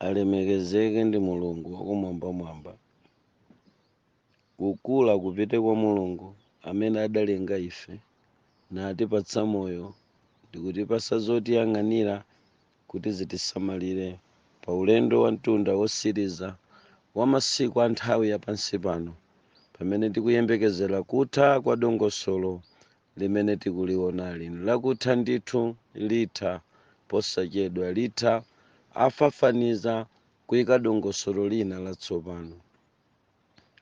alemekezeke ndi mulungu wakumwambamwamba kukula kupite kwa mulungu amene adalenga ife natipatsa moyo ndikutipasa zotiyang'anira kuti zitisamalire pa ulendo wa mtunda wosiriza wa masiku a nthawi ya pansi pano pamene tikuyembekezera kutha kwa dongosolo limene tikuliwonali nlakutha ndithu, litha posachedwa, litha, afafaniza, kuika dongosolo lina latsopano.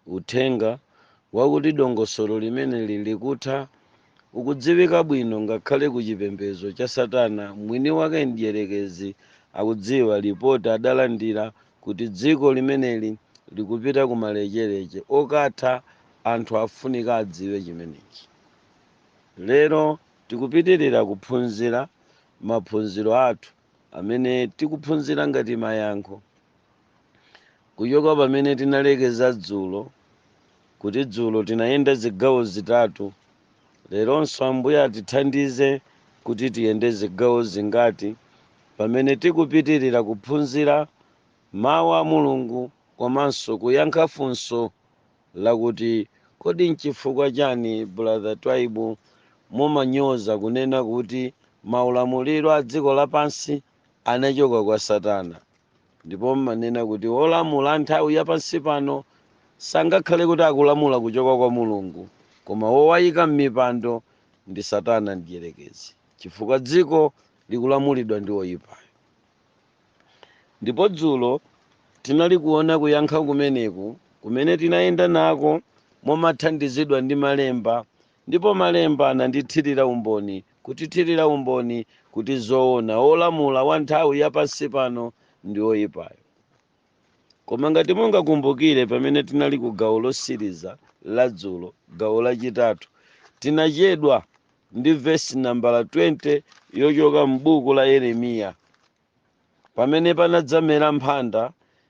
Uthenga wakuti dongosolo limeneli likutha ukudziwika bwino ngakhale ku chipembedzo cha Satana mwini wake Mdyerekezi akudziwa, lipoti adalandira kuti dziko limeneli likupita kumalecheleche okatha anthu afunika adziwe chimenechi lero tikupitilira kuphunzira maphunziro athu amene tikuphunzira ngati mayankho kuchoka pamene tinalekeza dzulo kuti dzulo tinayenda zigawo zitatu Leronso Ambuye atithandize kuti tiyende zigawo zingati pamene tikupitirira kuphunzira Mawu a Mulungu komanso kuyankha funso lakuti, Kodi n'chifukwa chani Brother Twaibu mumanyoza kunena kuti maulamuliro a dziko lapansi anachoka kwa Satana? ndipo mmanena kuti wolamula nthawi ya pansi pano sangakhale kuti akulamula kuchoka kwa mulungu koma wowayika m'mipando ndi satana mdyerekezi chifukwa dziko likulamulidwa ndi oyipayo ndipo dzulo tinali kuona kuyankha kumeneku kumene tinayenda nako momathandizidwa ndi malemba ndipo malemba anandichitira umboni kutithirira umboni kuti zoona wolamula wa nthawi ya pansi pano ndi woyipayo. Koma ngati mungakumbukire pamene tinali ku gawo losiriza la dzulo, gawo lachitatu, tinachedwa ndi vesi nambala 20 yochoka m'buku la Yeremiya. pamene panadzamera mphanda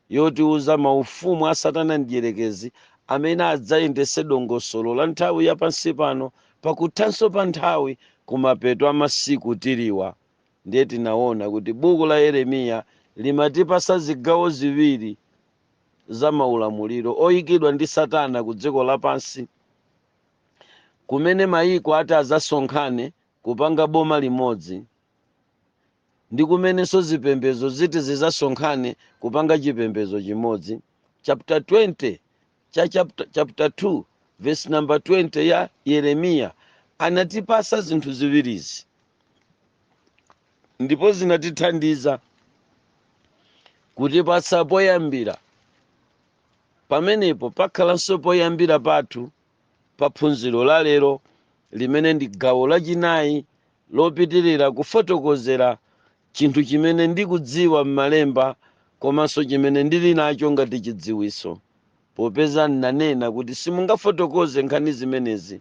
yotiuza maufumu a Satana Mdyerekezi amene adzayendese dongosolo la nthawi ya pansi pano pa kuthanso pa nthawi kumapeto a masiku tiliwa. Ndiye tinaona kuti buku la Yeremiya limatipasa zigawo ziwiri za maulamuliro oikidwa ndi Satana ku dziko lapansi, kumene mayiko ati adzasonkhane kupanga boma limodzi. ndi kumenenso zipembedzo ziti zidzasonkhane kupanga chipembedzo chimodzi. Chapter 20 cha chapter, chapter 2 verse number 20 ya Yeremiya anatipasa zinthu ziwirizi ndipo zinatithandiza kutipatsa poyambira pamenepo pakhalanso poyambira pathu pa phunziro la lero limene ndi gawo lachinayi lopitirira kufotokozera chinthu chimene ndikudziwa m'malemba komanso chimene ndili nacho ngati chidziwitso popeza nnanena kuti simungafotokoze nkhani zimenezi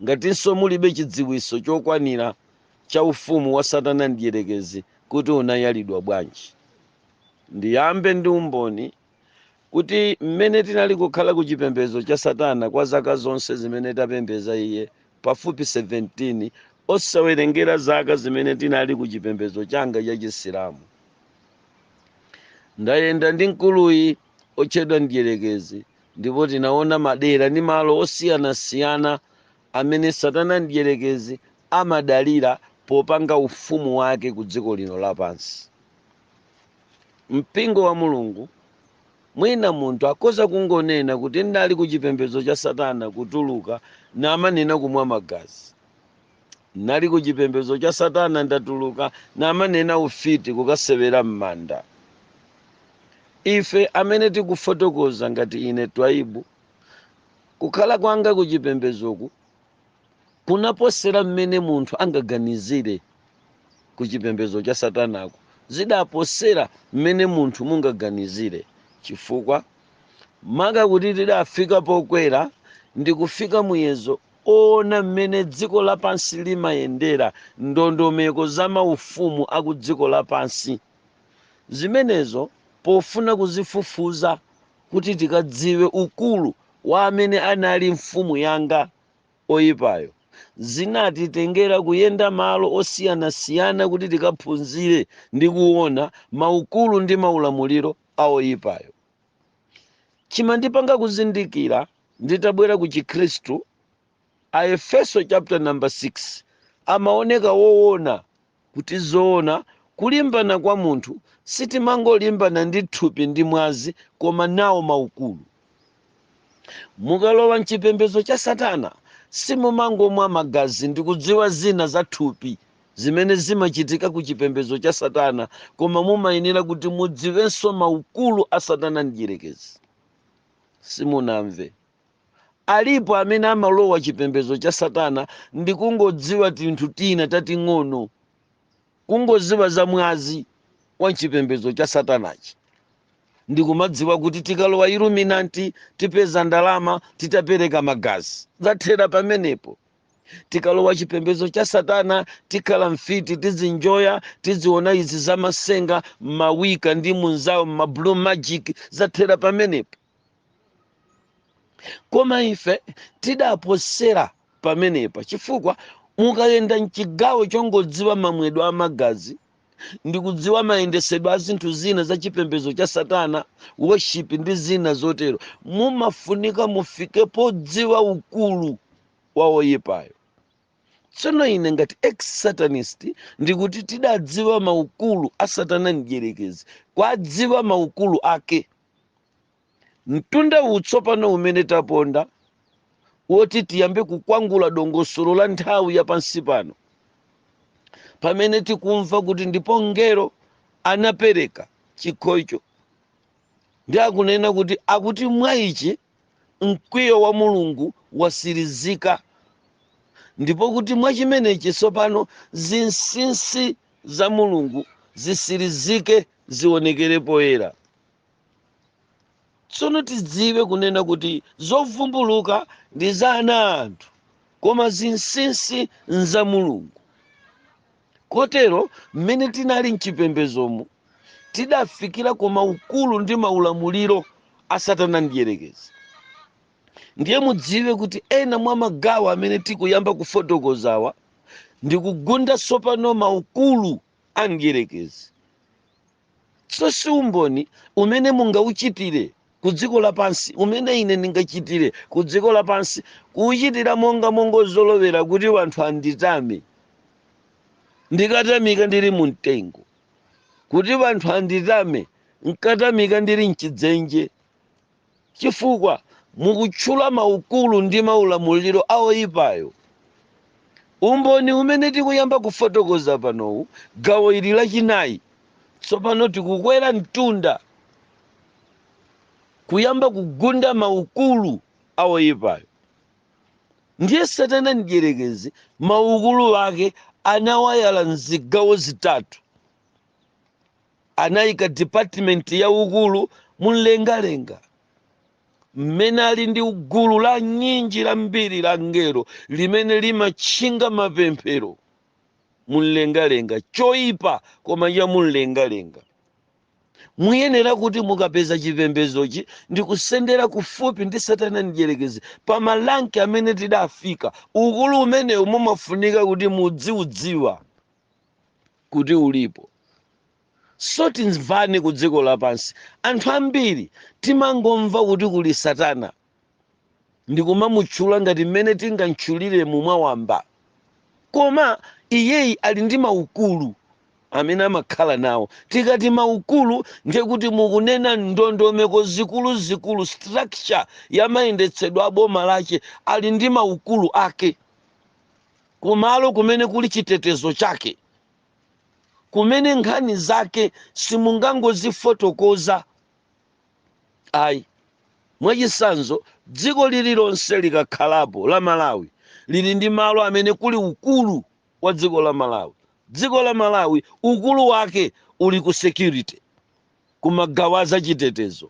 ngatinso mulibe chidziwitso chokwanira cha ufumu wa satana mdyerekezi kuti unayalidwa bwanji ndiyambe ndi umboni kuti mmene tinali kukhala ku chipembedzo cha Satana kwa zaka zonse zimene tapembedza iye, pafupi 17, osawerengera zaka zimene tinali ku chipembedzo changa cha Chisilamu. Ndayenda ndi mkuluyi otchedwa mdyerekezi ndipo tinaona madera ndi malo osiyanasiyana amene Satana mdyerekezi amadalira popanga ufumu wake ku dziko lino lapansi. Mpingo wa Mulungu, mwina munthu akhoza kungonena kuti nnali ku chipembedzo cha Satana kutuluka namanena kumwa magazi. Nnali ku chipembedzo cha Satana ndatuluka namanena ufiti kukasewera m'manda. Ife amene tikufotokoza ngati ine Twaibu, kukhala kwanga ku chipembedzoku kunaposera mmene munthu angaganizire ku chipembedzo cha satanako zidaposera mmene munthu mungaganizire chifukwa maka kuti tidafika pokwera ndi kufika muyezo oona mmene dziko lapansi limayendera ndondomeko za maufumu aku dziko lapansi zimenezo pofuna kuzifufuza kuti tikadziwe ukulu wa amene anali mfumu yanga oyipayo. Zinatitengera kuyenda malo osiyanasiyana kuti tikaphunzire ndi kuona maukulu ndi maulamuliro a oyipayo. Chimandipanga kuzindikira nditabwera ku Chikhristu, Aefeso chapter number 6 amaoneka woona kuti zoona kulimbana kwa munthu sitimangolimbana ndi thupi ndi mwazi koma nawo maukulu. Mukalowa mchipembezo cha satana simumangomwa magazi ndikudziwa zina za thupi zimene zimachitika ku chipembezo cha satana koma mumayenera kuti mudziwenso maukulu a satana mdyerekezi. Simunamve. Alipo amene amalowa chipembedzo cha Satana ndi kungodziwa tinthu tina tating'ono, kungodziwa za mwazi wa m'chipembedzo cha Satanachi, ndi kumadziwa kuti tikalowa Illuminanti tipeza ndalama titapereka magazi. Zathera pamenepo. Tikalowa chipembedzo cha Satana tikhala mfiti, tidzinjoya, tidziona izi za matsenga, ma Wicca ndi munzawo, ma blue magic. Zathera pamenepo. koma ife tidaposera pamenepa chifukwa mukayenda mchigawo chongodziwa mamwedwe a magazi ndikudziwa mayendesedwe a zinthu zina za chipembedzo cha satana worship ndi zina zotero mumafunika mufike podziwa ukulu wa oyipayo tsono ine ngati ex satanist ndikuti tidadziwa maukulu a satana mdyerekezi kwadziwa maukulu ake mtunda uwu tsopano umene taponda woti tiyambe kukwangula dongosolo la nthawi ya pansi pano pamene tikumva kuti ndipo mngelo anapereka chikho icho ndi akunena kuti akuti mwa ichi mkwiyo wa mulungu watsirizika ndipo kuti mwa chimenechi tsopano zinsinsi za mulungu zitsirizike zionekere poyera tsono tidziwe kunena kuti zovumbuluka ndi za ana anthu koma zinsinsi nza mulungu kotero mmene tinali mchipembedzomu tidafikira ku maukulu ndi maulamuliro a satana mdyerekezi ndiye mudziwe kuti ena mwa magawo amene tikuyamba kufotokozawa ndikugunda tsopano maukulu a Mdyerekezi. So si umboni umene mungauchitire ku dziko lapansi, umene ine ndingachitire ku dziko lapansi, kuuchitira monga mongozolowera kuti wanthu anditame, ndikatamika ndiri mu mtengo, kuti wanthu anditame nkatamika ndiri m'chidzenje. chifukwa mukutchula maukulu ndi maulamuliro a woipayo. Umboni umene tikuyamba kufotokoza panowu, gawo ili lachinayi, tsopano tikukwera mtunda kuyamba kugunda maukulu a woipayo. Ndiye Satana Mdyerekezi maukulu ake anawayala m'zigawo zitatu. Anaika dipatimenti ya Ukulu mumlengalenga, mmene ali ndi gulu la nyinji lambiri la angelo limene limatchinga mapemphero mumlengalenga, choipa koma cha mumlengalenga. Muyenera kuti mukapeza chipembedzochi ndikusendera kufupi ndi Satana Mdyerekezi pa maranki amene tidafika. Ukulu umenewu mumafunika kuti mudziudziwa. kuti ulipo. So timvane kudziko lapansi anthu ambiri timangomva kuti kuli satana ndikumamutchula ngati mmene tingamtchulire mu mwawamba koma iyeyi ali ndi maukulu amene amakhala nawo tikati maukulu ndiye kuti mukunena ndondomeko zikuluzikulu structure ya mayendetsedwe a boma lache ali ndi maukulu ake kumalo kumene kuli chitetezo chake, kumene nkhani zake simungangozifotokoza ayi. Mwachitsanzo, dziko lililonse likakhalapo, la Malawi, lili ndi malo amene kuli ukulu wa dziko la Malawi. Dziko la Malawi ukulu wake uli ku security, ku magawo a zachitetezo.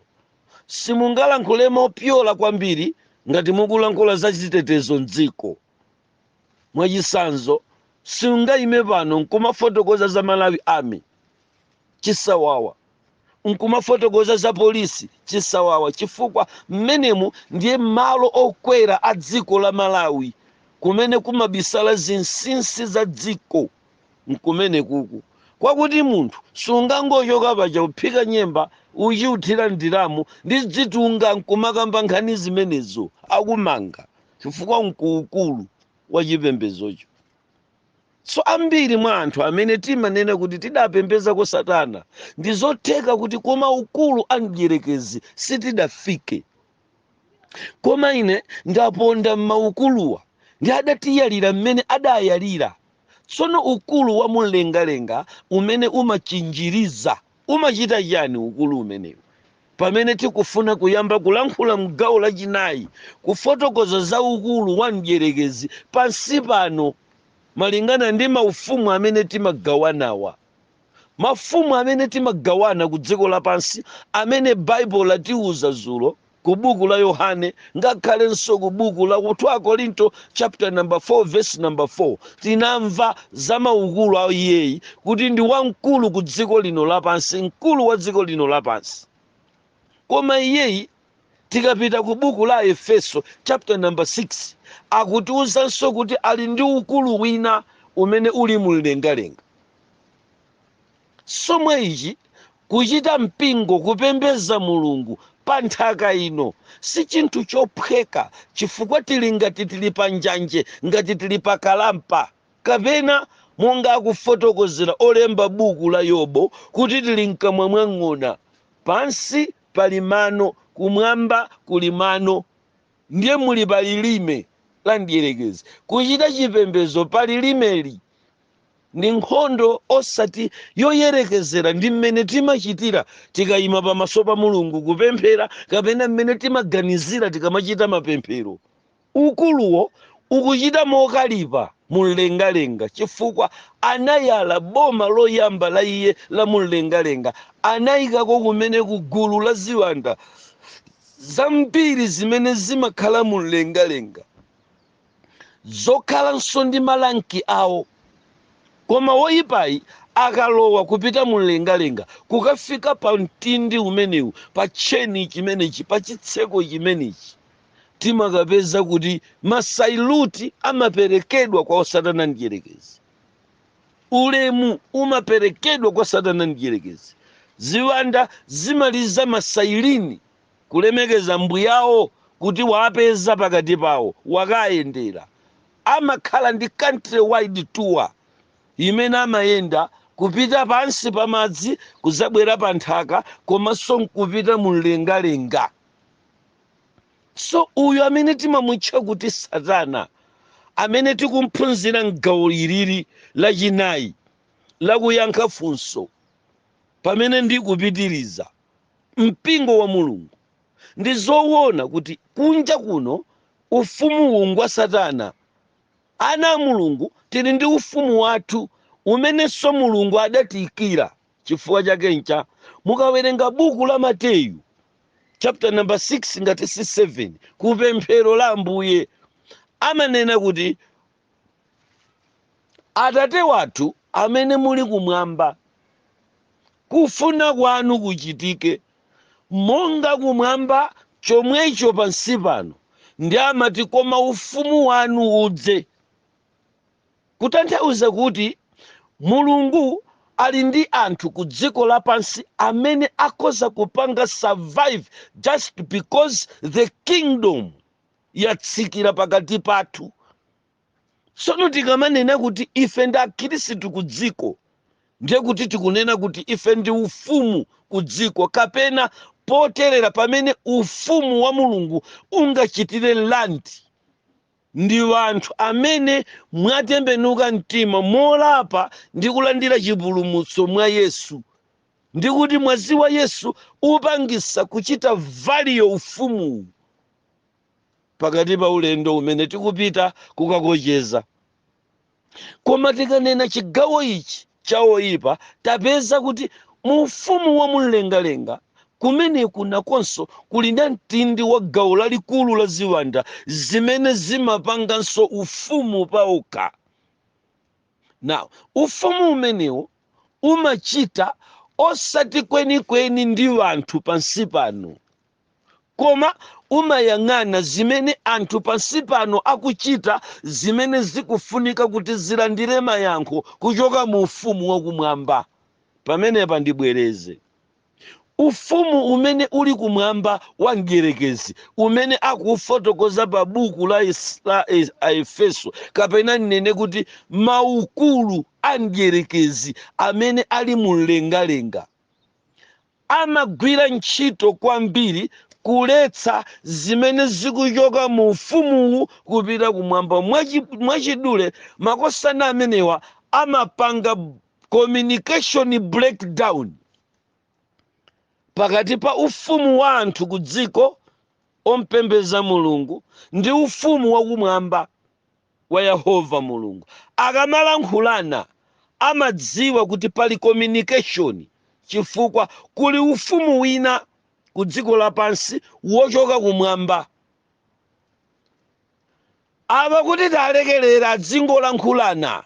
Simungalankhule mopyola kwambiri ngati mukulankhula za chitetezo m'dziko. mwachitsanzo siungaime pano nkumafotokoza za malawi army chisawawa nkumafotokoza za polisi chisawawa chifukwa mmenemu ndiye malo okwera a dziko la malawi kumene kumabisala zinsinsi za dziko nkumene kuku kwakuti munthu sungangochoka paja kuphika nyemba uchiuthira ndiramu ndi dzitunga nkumakamba nkhani zimenezo akumanga chifukwa nkuukulu wa chipembedzocho so ambiri mwa anthu amene timanena kuti tidapembezako satana ndi zotheka kuti koma ukulu a mdyerekezi sitidafike koma ine ndaponda m'maukuluwa ndi adatiyalira mmene adayalira tsono ukulu wa mumlengalenga umene umachinjiriza Umachita chiyani ukulu umenewu? Pamene tikufuna kuyamba kulankhula m'gawo lachinayi, kufotokoza za ukulu wa mdyerekezi pansi pano malingana ndi maufumu amene timagawanawa. Mafumu amene timagawana kudziko lapansi amene Bible latiuza zulo ku buku la yohane ngakhalenso ku buku la 2 akorinto chapter number 4 verse number 4 tinamva za maukulu a iyeyi kuti ndi wamkulu ku dziko lino lapansi mkulu wa dziko lino lapansi koma iyeyi tikapita ku buku la aefeso chapter number 6 akutiwuzanso kuti ali ndi ukulu wina umene uli mumlengalenga Chomwe ichi kuchita mpingo kupembeza Mulungu pa nthaka ino sichinthu chophweka chifukwa tili ngati tili pa njanje ngati tili pa kalampa kapena monga akufotokozera olemba buku la Yobu kuti tili mkamwa mwa ng'ona pansi pali mano kumwamba kuli mano ndiye muli pa lilime la mdierekezi. Kuchita chipembezo pa lilimeli Ndi nkhondo osati yoyerekezera ndi mmene timachitira tikaima pamaso pa Mulungu kupemphera kapena mmene timaganizira tikamachita mapemphero. Ukuluwo ukuchita mokalipa mu mlengalenga chifukwa anayala boma loyamba la iye la mu mlengalenga, anaikako kumene ku gulu la ziwanda zambiri zimene zimakhala mu mlengalenga. zokhalanso ndi maranki awo. Koma woipayi akalowa kupita mumlengalenga, kukafika pa mtindi umenewu, pa tcheni chimenechi, pa chitseko chimenechi, timakapeza kuti masaluti amaperekedwa kwa Satana Mdyerekezi. Ulemu umaperekedwa kwa Satana Mdyerekezi. Ziwanda zimaliza masailini kulemekeza mbuyawo kuti wawapeza pakati pawo wakawayendera amakhala ndi country wide tour imene amayenda kupita pansi pa madzi kuzabwera pa nthaka komanso nkupita mu mlengalenga so uyu amene timamutcha kuti satana amene tikumphunzira mgawo ilili lachinayi la kuyankha funso pamene ndikupitiriza mpingo wa Mulungu. Ndi zowona kuti kunja kuno ufumuwu ngwa Satana. Ana a Mulungu tili ndi ufumu wathu umenenso Mulungu adatiikira. Chifukwa chake ncha, mukawerenga buku la Mateyu chapter number 6 ngati si 7 ku pemphero la Ambuye amanena kuti Atate wathu amene muli kumwamba, kufuna kwanu kuchitike, monga kumwamba chomwecho pansi pano. Ndiye amati, koma ufumu wanu udze. Kutanthauza kuti Mulungu ali ndi anthu ku dziko lapansi amene akhoza kupanga survive just because the kingdom yatsikira pakati pathu tsono tikamanena kuti ife ndi akhristu ku dziko ndiye kuti tikunena kuti ife ndi ufumu ku dziko kapena poterera pamene ufumu wa mulungu ungachitire land ndi wanthu amene mwatembenuka mtima molapa ndi kulandira chipulumutso mwa yesu ndi kuti mwazi wa yesu upangisa kuchita valiyo ufumuwu pakati pa ulendo umene tikupita kukakocheza koma tikanena chigawo ichi cha oyipa tapeza kuti mu ufumu wa mumlengalenga kumeneku nakonso kuli na mtindi wa gawo lalikulu la ziwanda zimene zimapanganso ufumu paokha now ufumu umenewo umachita osati kwenikweni ndi wanthu pansi pano Koma umayang'ana zimene anthu pansi pano akuchita zimene zikufunika kuti zilandire mayankho kuchoka mu Ufumu wa Kumwamba. Pamenepa ndibwereze. Ufumu umene uli kumwamba wa Mdyerekezi, umene akuufotokoza pa buku la Aefeso, kapena ndinene kuti maukulu a Mdyerekezi amene ali mumlengalenga, amagwira ntchito kwambiri kuletsa zimene zikuchoka mu Ufumuwu kupita kumwamba. Mwachidule, makosana amenewa amapanga communication breakdown pakati pa ufumu wa anthu kudziko ompembeza Mulungu ndi ufumu wakumwamba. wa Yehova Mulungu. Akamalankhulana amadziwa kuti pali communication chifukwa kuli ufumu wina ku dziko lapansi wochoka kumwamba. Awa kuti talekelera adzingolankhulana,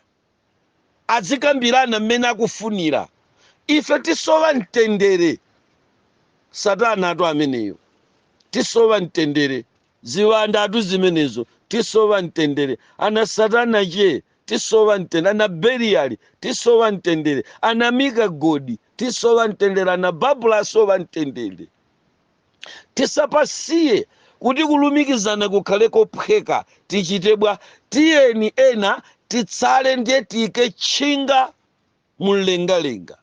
adzikambirana mmene akufunira. Ife tisowa mtendere. Satanatu ameneyo. Tisowa mtendere. Ziwandatu zimenezo tisowa mtendere. Ana satana tche tisowa mtende. Ana Beliyali tisowa mtendere. Ana Mika godi tisowa mtendere. Ana Babula asowa mtendere. Tisapasiye kuti kulumikizana kukhale kophweka. Tichite bwa? Tiyeni ena titsale ndiye tiike tchinga. mumlengalenga.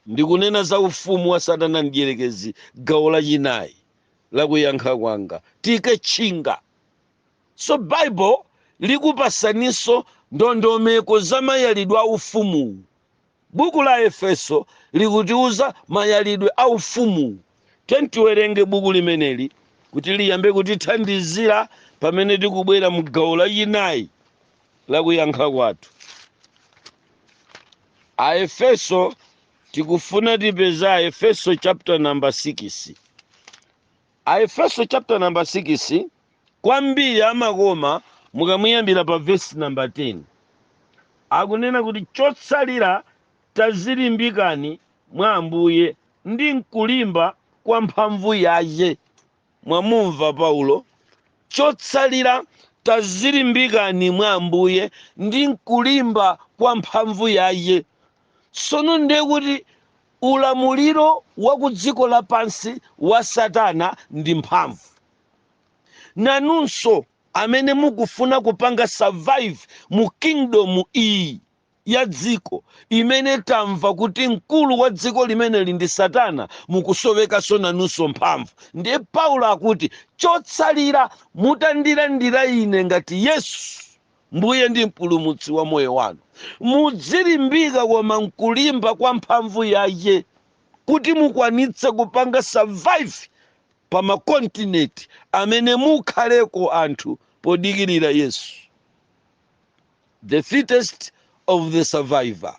Ndikunena za ufumu wa Satana Mdyerekezi, gawo lachinayi la kuyankha kwanga. Tiike tchinga. So Bible likupasaninso ndondomeko za mayalidwe a ufumuwu. Buku la Aefeso likutiuza mayalidwe a ufumuwu. Tiyeni tiwerenge buku limeneli kuti liyambe kutithandizira pamene tikubwera mu gawo lachinayi. la kuyankha kwathu aefeso tikufuna tipeze aefeso chapter number 6 aefeso chapter number 6 kwambiri amakoma mukamuyambira pa vesi number 10 akunena kuti chotsalira tadzilimbikani mwa ambuye ndi mkulimba kwa mphamvu yache Mwamumva Paulo? Chotsalira, tadzilimbikani mwa Ambuye ndi m'kulimba kwa mphamvu yache. Tsono ndiye kuti ulamuliro wa ku dziko lapansi wa Satana ndi mphamvu. Nanunso amene mukufuna kupanga survive mu kingdom iyi. ya dziko imene tamva kuti mkulu wa dziko limeneli ndi satana mukusowekanso nanunso mphamvu ndiye paulo akuti chotsalira mutandilandira ine ngati yesu mbuye ndi mpulumutsi wa moyo wanu mudzilimbika koma mkulimba kwa mphamvu yache kuti mukwanitse kupanga survive pa makontinenti amene mukhaleko anthu podikirira yesu the fittest of the survivor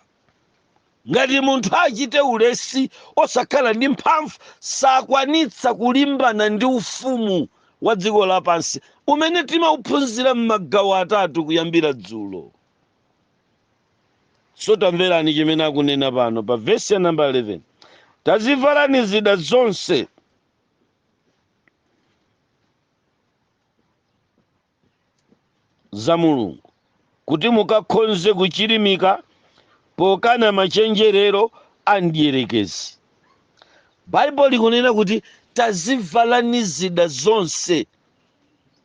ngati munthu achite ulesi osakhala ndi mphamvu sakwanitsa kulimbana ndi ufumu wa dziko lapansi umene timauphunzira m'magawo atatu kuyambira dzulo so tamverani chimene akunena pano pa vesi ya namba 11 tazivalani zida zonse za Mulungu, kuti mukakhonze kuchirimika pokana machenjerero a mdierekezi. Bible likunena kuti tazivalani zida zonse,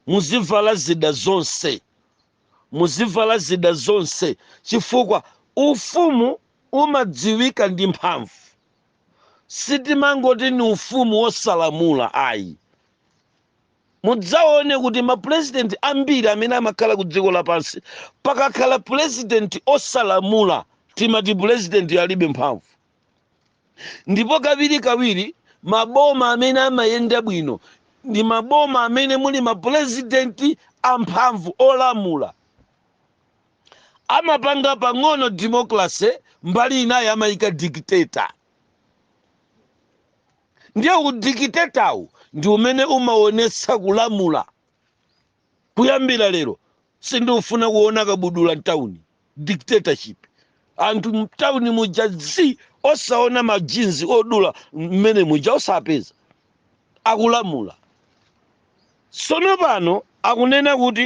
muzivala zida zonse, muzivala zida zonse, chifukwa ufumu umadziwika ndi mphamvu. Sitimangoti ni ufumu wosalamula ayi, mudzaone kuti mapulezidenti ambiri amene amakhala ku dziko lapansi pakakhala pulezidenti osalamula timati pulezidenti alibe mphamvu ndipo kawirikawiri maboma amene amayenda bwino ndi maboma amene muli mapulezidenti amphamvu olamula amapanga pang'ono democracy mbali inayi amayika dictator ndiye udikitetawu ndi umene umaonetsa kulamula kuyambira lero sindiufuna kuona kabudula mtauni dictatorship anthu mtauni mujadi osaona majinzi odula mmene muja osapeza akulamula sono pano akunena kuti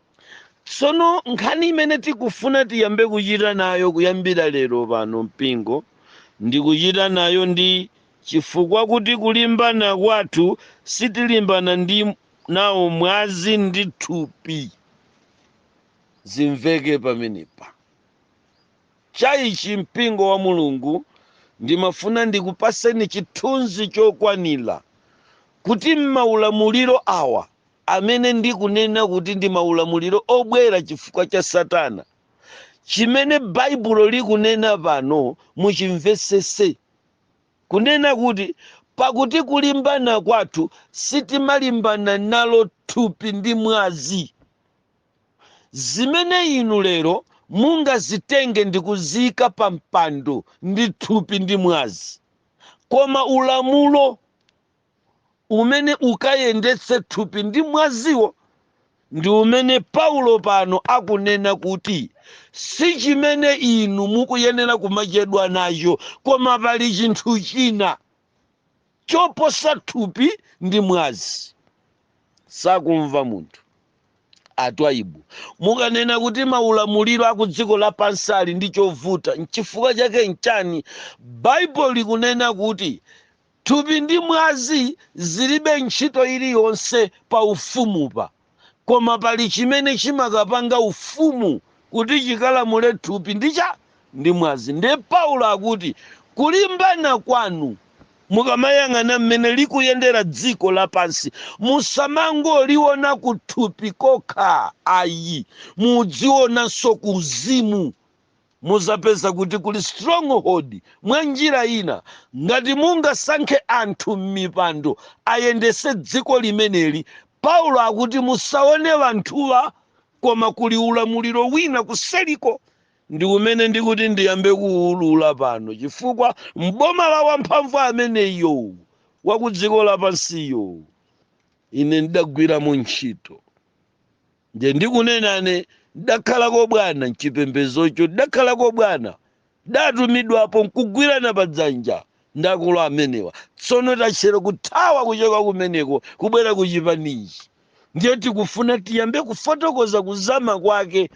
tsono nkhani imene tikufuna tiyambe kuchita nayo kuyambira lero pano mpingo ndikuchita nayo ndi chifukwa kuti kulimbana kwathu sitilimbana ndi nawo mwazi ndi thupi zimveke pamenepa chaichi mpingo wa mulungu ndimafuna ndikupaseni chithunzi chokwanira kuti mmaulamuliro awa amene ndikunena kuti ndi maulamuliro obwera chifukwa cha Satana, chimene Baibulo likunena pano muchimvetsetse. Kunena kuti, Pakuti kulimbana kwathu sitimalimbana nalo thupi ndi mwazi. Zimene inu lero mungazitenge ndi kuziika pa mpando ndi thupi ndi mwazi. Koma ulamulo umene ukayendetse thupi ndi mwaziwo ndi umene Paulo pano akunena kuti si chimene inu mukuyenera kumachedwa nacho, koma pali chinthu china choposa thupi ndi mwazi. Sakumva munthu atwaibu mukanena kuti maulamuliro a ku dziko lapansi ali ndi chovuta. Nchifukwa chake nchani Baibulo likunena kuti Thupi ndi mwazi zilibe ntchito iliyonse pa Ufumupa, koma pali chimene chimakapanga Ufumu kuti chikalamule thupi ndi cha? Ndi mwazi. Ndiye Paulo akuti, Kulimbana kwanu, mukamayang'ana mmene likuyendera dziko lapansi, musamangoliona kuthupi kokha ayi, mudzionanso kuuzimu. mudzapeza kuti kuli stronghold mwanjira ina ngati mungasankhe anthu mmipando ayendetse dziko limeneli paulo akuti musaone anthuwa koma kuli ulamuliro wina kuseriko ndi umene ndikuti ndiyambe kuulula pano chifukwa mboma la wamphamvu ameneyo wakudziko lapansiyo ine ndidagwiramo ntchito nde ndikunenane ndidakhalako bwana mchipembezocho ndidakhalako bwana ndatumidwapo nkugwirana padzanja ndi akulu amenewa tsono tachera kuthawa kuchoka kumeneko kubwera kuchipanichi ndiye tikufuna tiyambe kufotokoza kuzama kwake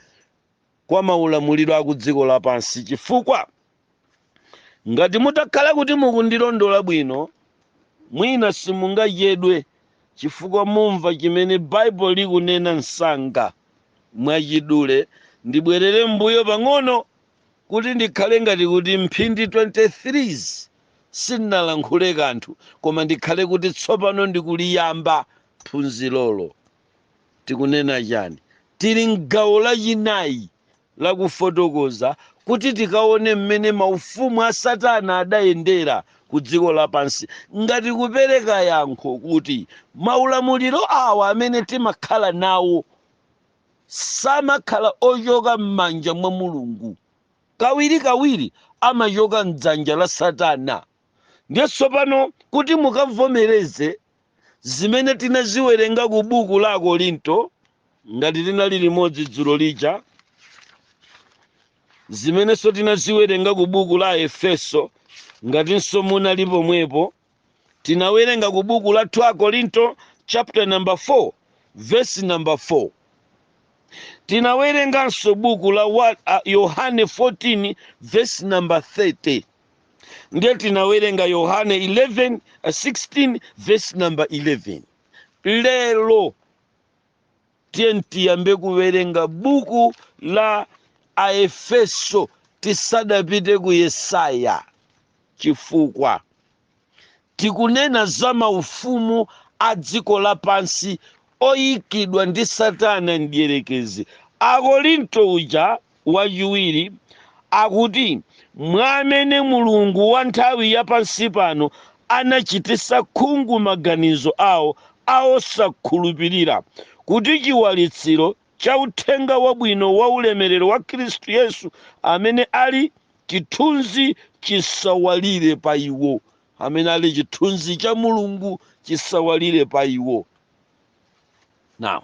kwa maulamuliro a kudziko lapansi, chifukwa, ngati mutakhala kuti mukundilondola bwino, mwina simungachedwe chifukwa mumva chimene Baibulo likunena msanga. Mwachidule, ndibwerere mmbuyo pang'ono kuti ndikhale ngati kuti mphindi 23 sindinalankhule kanthu, koma ndikhale kuti tsopano ndikuliyamba phunzirolo. Tikunena chani? Tili m'gawo lachinayi la kufotokoza kuti tikaone mmene maufumu a Satana adayendera ku dziko lapansi ngati kupereka yankho kuti maulamuliro awa amene timakhala nawo samakhala ochoka m'manja mwa Mulungu. Kawirikawiri amachoka m'dzanja la Satana. Ndiye tsopano kuti mukavomereze zimene tinaziwerenga ku buku la Akorinto, ngati tinali limodzi dzulo lija, zimenenso tinaziwerenga ku buku la Aefeso, ngatinso munali pomwepo, tinawerenga ku buku la 2 Akorinto chapter number 4 verse number 4 tinawerenganso buku la wa- a- yohane 14 verse number 30 ndiye tinawerenga yohane 11 uh, 16 verse number 11 lero tiye tiyambe kuwerenga buku la aefeso tisadapite ku yesaya chifukwa Tikunena za maufumu a dziko lapansi oikidwa ndi Satana Mdyerekezi. Akorinto uja wachiwiri akuti, Mwa amene mulungu wa nthawi ya pansi pano anachititsa khungu maganizo awo a osakhulupirira, kuti chiwalitsiro cha Uthenga Wabwino wa ulemerero wa Khristu Yesu, amene ali chithunzi chisawalire pa iwo, amene ali chithunzi cha Mulungu chisawalire pa iwo. Now,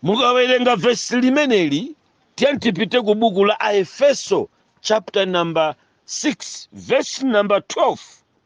mukawerenga vesi limeneli tiyeni tipite ku buku la Aefeso chapter number 6 verse number 12.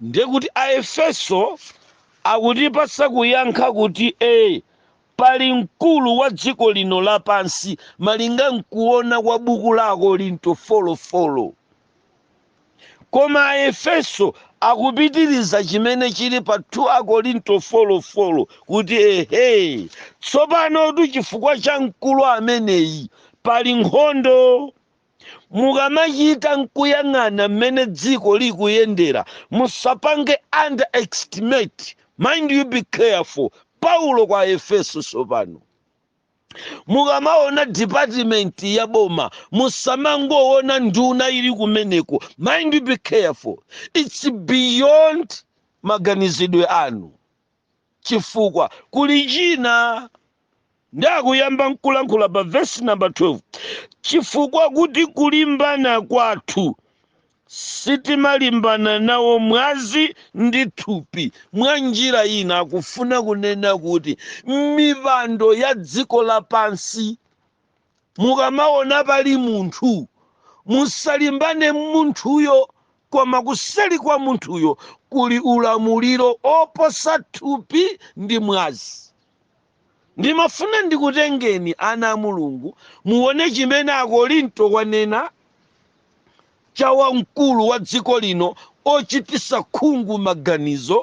ndiye kuti aefeso akutipatsa kuyankha kuti e pali mkulu wa dziko lino lapansi malinga nkuona kwa buku la akorinto four four koma aefeso akupitiriza chimene chili pa 2 akorinto four four kuti ehe tsopanotu chifukwa cha mkulu ameneyi pali nkhondo Mukamachita nkuyang'ana mmene dziko likuyendera musapange underestimate, mind you be careful, Paulo kwa Aefeso tsopano. Mukamaona department ya boma musamangoona nduna ili kumeneko, mind you be careful, it's beyond maganizidwe anu. chifukwa kuli china ndi akuyamba nkulankhula pa vesi namba 12 chifukwa kuti kulimbana kwathu sitimalimbana nawo mwazi ndi thupi mwa njira ina akufuna kunena kuti mipando ya dziko lapansi Mukamaona pali munthu, musalimbane n'munthuyo, koma kuseri kwa munthuyo kuli ulamuliro oposa thupi ndi mwazi. Ndimafuna ndikutengeni, ana a Mulungu, muone chimene Akorinto wanena cha wa mkulu wa dziko lino ochitisa khungu maganizo.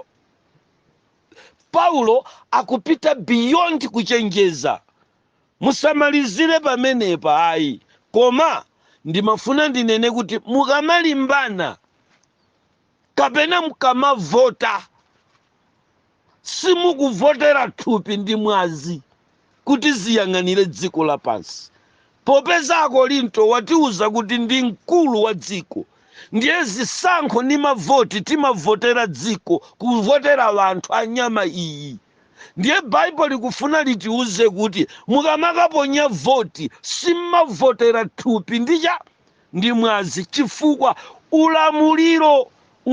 Paulo akupita beyond kuchenjeza Musamalizire pamenepa ayi, koma ndimafuna ndinene kuti mukamalimbana kapena mukamavota, simukuvotera thupi ndi mwazi kuti ziyang'anire dziko lapansi. Popeza Akorinto watiuza kuti ndi mkulu wa dziko, ndiye zisankho ni mavoti timavotera dziko, kuvotera wanthu a nyama iyi. Ndiye Bible likufuna litiuze kuti mukamakaponya voti sim'mavotera thupi ndi cha ndi mwazi chifukwa ulamuliro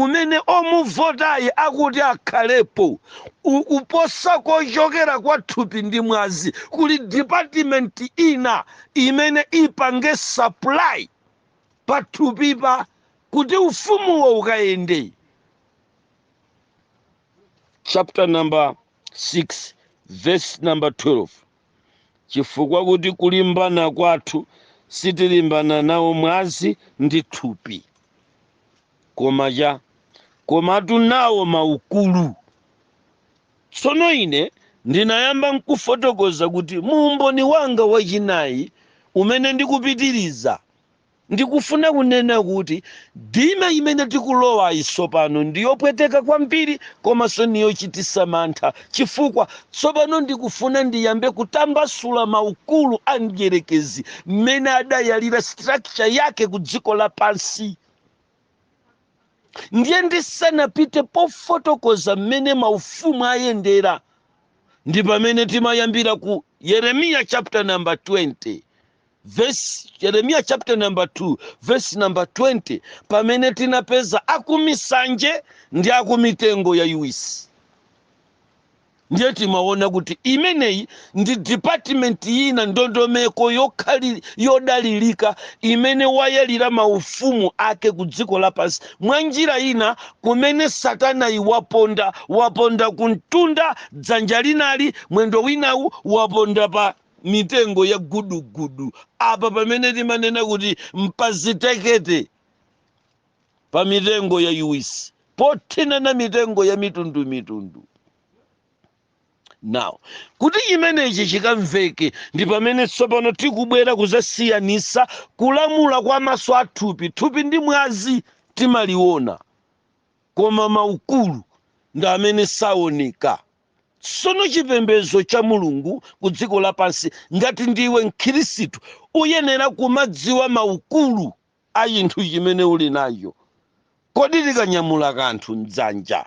umene omuvotayi akuti akhalepo ukuposa kochokera kwa thupi ndi mwazi kuli department ina imene ipange supply pa thupipa kuti ufumuwo ukayende chapter number 6 verse number 12 chifukwa kuti kulimbana kwathu sitilimbana nawo mwazi ndi thupi koma cha komatu nawo maukulu tsono ine ndinayamba nkufotokoza kuti muumboni wanga wachinayi umene ndikupitiriza Ndikufuna kunena kuti dime imene tikulowayi tsopano ndi yopweteka kwambiri komanso ni yochititsa mantha chifukwa tsopano ndikufuna ndiyambe kutambasula maukulu a mdyerekezi mmene adayalira structure yake ku dziko lapansi. Ndiye ndisanapite pofotokoza mmene maufumu ayendera ndi pamene timayambira ku Yeremiya chapter number 20 Verse, Yeremiya chapter number 2 verse number 20 pamene tinapeza akumisanje ndi akumitengo yaiwisi ndiye timaona kuti imeneyi ndi department ina ndondomeko yokhali yodalirika imene wayalira maufumu ake ku dziko lapansi mwa njira ina kumene satanayi waponda waponda kumtunda dzanja linali mwendo winawu waponda pa mitengo ya gudugudu apa pamene timanena kuti mpazitekete pa mitengo yayiwisi pothinana mitengo ya mitundu mitundu now kuti chimenechi chikamveke ndi pamene tsopano tikubwera kuzasiyanisa kulamula kwa maso a thupi thupi ndi mwazi timaliona koma maukulu ndi amene saoneka tsono chipembedzo cha mulungu ku dziko lapansi ngati ndiwe mkhristu uyenera kumadziwa maukulu a chinthu chimene uli nacho kodi tikanyamula kanthu mdzanja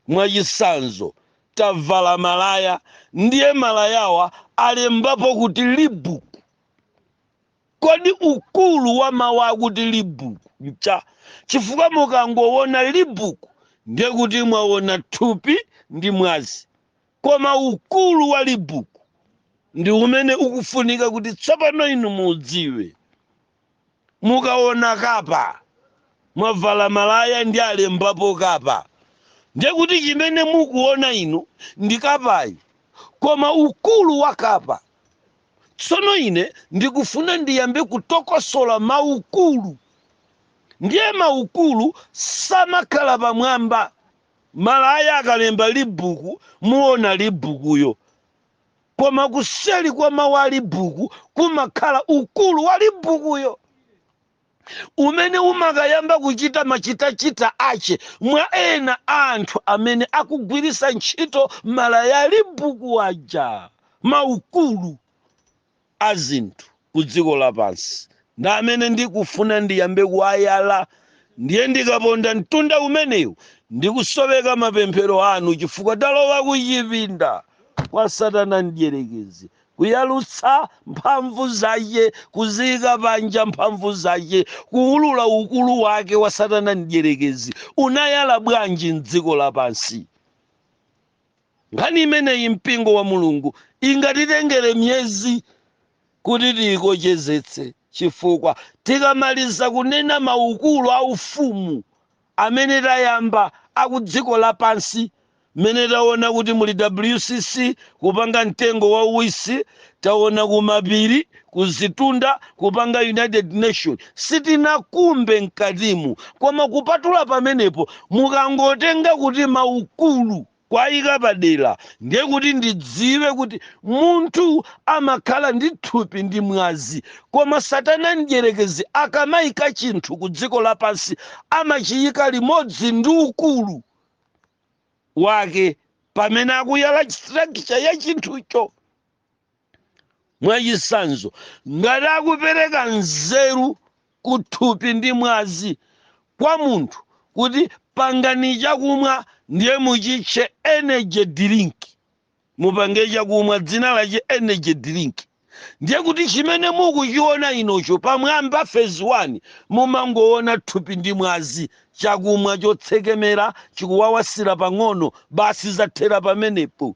mwachisanzo tavala malaya ndiye malayawa alembapo kuti libuku Kodi ukulu wa mawu akuti libuku ncha? Chifukwa mukangowona libuku ndiye kuti mwawona thupi ndi mwazi. Koma ukulu wa libuku ndi umene ukufunika kuti tsopano inu muudziwe. Mukawona kapa, mwavala malaya ndi alembapo kapa, ndiye kuti chimene mukuwona inu ndi kapayi. Koma ukulu wa kapa Tsono ine ndikufuna ndiyambe kutokosola maukulu. Ndiye maukulu samakhala pamwamba. Malaya akalemba libuku muona libukuyo. Koma kuseli kwa mawu a libuku kumakhala ukulu wa libukuyo. umene umakayamba kuchita machitachita ache mwa ena anthu amene akugwirisa ntchito malaya ali buku aja maukulu a zinthu ku dziko lapansi ndi amene ndikufuna ndiyambe kuwayala ndiye ndikaponda mtunda umenewu ndikusoweka mapemphero anu chifukwa talowa kuchipinda kwa satana mdyerekezi Kuyalutsa mphamvu zace, kuziika panja mphamvu zace, kuulula ukulu wake wa Satana Mdyerekezi. Unayala bwanji m'dziko lapansi? Nkhani imeneyi, mpingo wa Mulungu, ingatitengere miyezi kuti tiikochezetse, cifukwa tikamaliza kunena maukulu a Ufumu, amene tayamba akudziko lapansi mmene taona kuti muli WCC kupanga mtengo wa uwisi taona kumapiri kuzitunda kupanga United Nation sitinakumbe mkatimu koma kupatula pamenepo mukangotenga kuti maukulu kwaika padera ndiye kuti ndidziwe kuti munthu amakhala ndi thupi ndi mwazi koma satana mdyerekezi akamaika chinthu ku dziko lapansi amachiyika limodzi ndi ukulu wake pamene akuyala structure ya chinthucho mwachitsanzo ngati akupereka nzeru ku thupi ndi mwazi kwa munthu kuti pangani chakumwa ndiye muchitche energy drink mupange chakumwa dzina lache energy drink ndiye kuti chimene mukuchiona inocho pamwamba phase 1 mumangoona thupi ndi mwazi chakumwa chotsekemera chikuwawasira pang'ono basi zathera pamenepo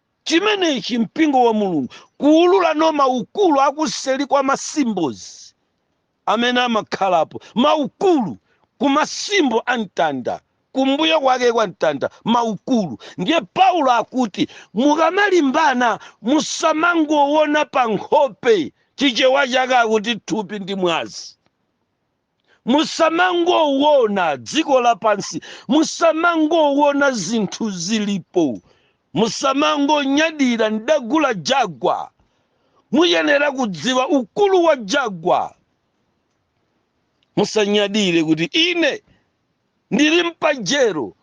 chimenechi mpingo wa mulungu kuulula no maukulu akuseli kwa ma symbols amene amakhalapo maukulu ku ma symbol a mtanda kumbuyo kwake kwa mtanda maukulu ndiye paulo akuti mukamalimbana musamangowona pa nkhope chichewa chake akuti thupi ndi mwazi Musamangowona dziko lapansi, musamangowona zinthu zilipo, musamangonyadira, ndagula Jaguar. Muyenera kudziwa ukulu wa Jaguar. Musanyadire kuti ine ndili mpajero,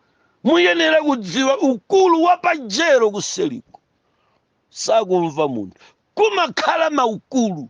muyenera kudziwa ukulu wa pajero kuseliko. Sakumva munthu, kumakhala maukulu.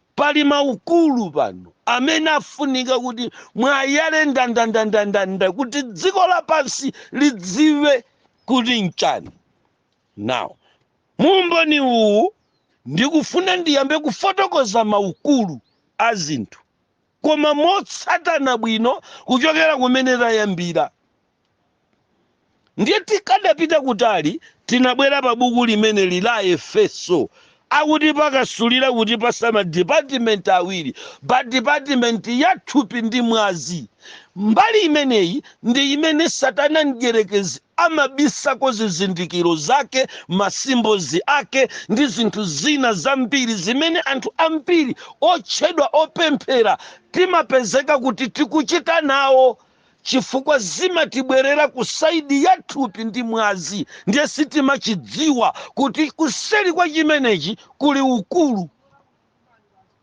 Pali maukulu pano amene afunika kuti mwayale ndandandandandanda kuti dziko lapansi lidziwe kuti nchani. Now, mu umboni uwu ndikufuna ndiyambe kufotokoza maukulu a zinthu koma motsatana bwino kuchokera kumene tayambira. ndiye tikadapita kutali tinabwera pa buku limeneli la efeso akuti pakasulira kutipatsa madipatimenti awiri pa dipatimenti ya thupi ndi mwazi mbali imeneyi ndi imene satana mdyerekezi amabisako zizindikiro zake masimbozi ake ndi zinthu zina zambiri zimene anthu ambiri otchedwa opemphera timapezeka kuti tikuchita nawo chifukwa zimatibwerera ku saidi ya thupi ndi mwazi, ndiye sitimachidziwa kuti kuseri kwa chimenechi kuli ukulu.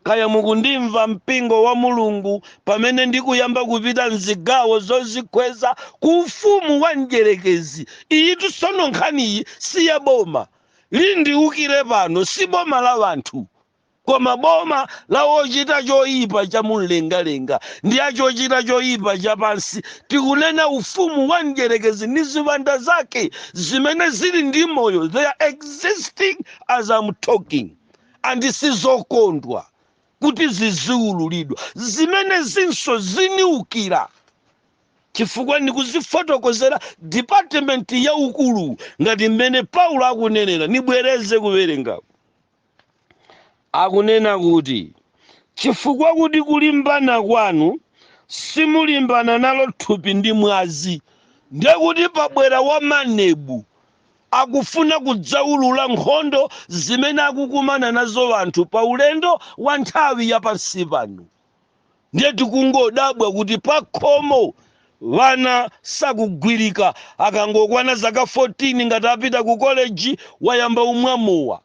Kaya mukundimva, mpingo wa Mulungu, pamene ndikuyamba kupita mzigawo zozikweza ku ufumu wa mdyerekezi. Iyitu tsono nkhaniyi si ya boma lindiukire pano, si boma la anthu. Koma boma la wochita choipa cha mumlengalenga ndi a chochita choipa cha pansi, tikunena ufumu wa Mdyerekezi ndi ziwanda zake zimene zili ndi moyo, they are existing as I'm talking and sizokondwa kuti ziziululidwa. Zimenezinso ziniukira chifukwa nikuzifotokozera department ya ukulu ngati mmene Paulo akunenera. Nibwereze kuwerengaku. Akunena kuti, Chifukwa kuti kulimbana kwanu simulimbana nalo thupi ndi mwazi. Ndiye kuti pabwera wa MANEB, akufuna kudzaulula nkhondo zimene akukumana nazo anthu pa ulendo wa nthawi ya pansi pano. Ndiye tikungodabwa kuti pakhomo wana sakugwirika, akangokwana zaka 14 ngati apita ku koleji wayamba umwa mowa.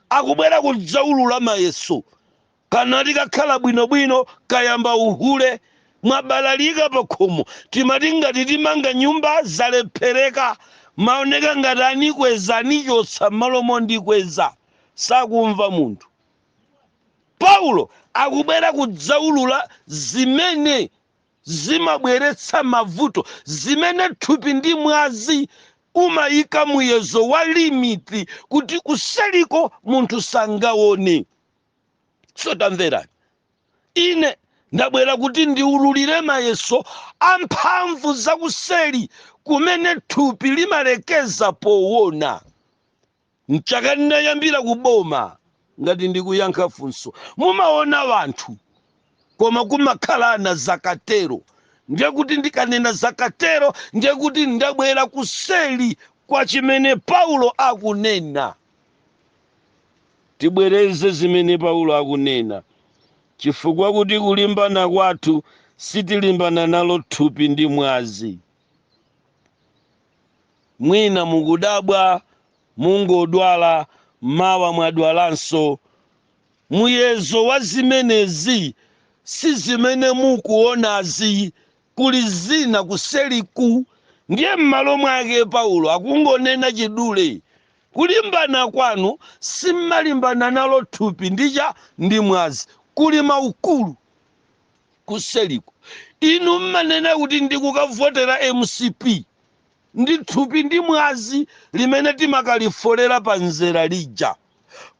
akubwera kudzaulula mayeso kanati kakhala bwinobwino kayamba uhule mwabalalika pakhomo timati ngati timanga nyumba zalephereka maoneka ngati anikweza anichotsa m'malo mondikweza sakumva munthu paulo akubwera kudzaulula zimene zimabweretsa mavuto, zimene thupi ndi mwazi umayika muyezo wa limit kuti kuseriko munthu sangaone. So tamverani, ine ndabwera kuti ndiululire mayeso a mphamvu zakuseri kumene thupi limalekeza powona. M'chaka ndinayambira ku boma ngati ndikuyankha funso mumaona anthu koma kumakhala na zakatero ndiye kuti ndikanena zakatero ndiye kuti ndabwera kuseli kwa chimene Paulo akunena. Tibwereze zimene Paulo akunena chifukwa kuti kulimbana kwathu sitilimbana nalo thupi ndi mwazi. Mwina mukudabwa, mungodwala, mawa mwadwalanso. Muyezo wa zimenezi si zimene mukuonazi. Kuli zina kuseliku. Ndiye m'malo mwake Paulo akungonena chidule, kulimbana kwanu sim'malimbana nalo thupi ndi cha ndi mwazi. Kuli maukulu. kuseliko inu mmanena kuti ndikukavotera mcp ndi thupi ndi mwazi limene timakalifolera pa nzere lija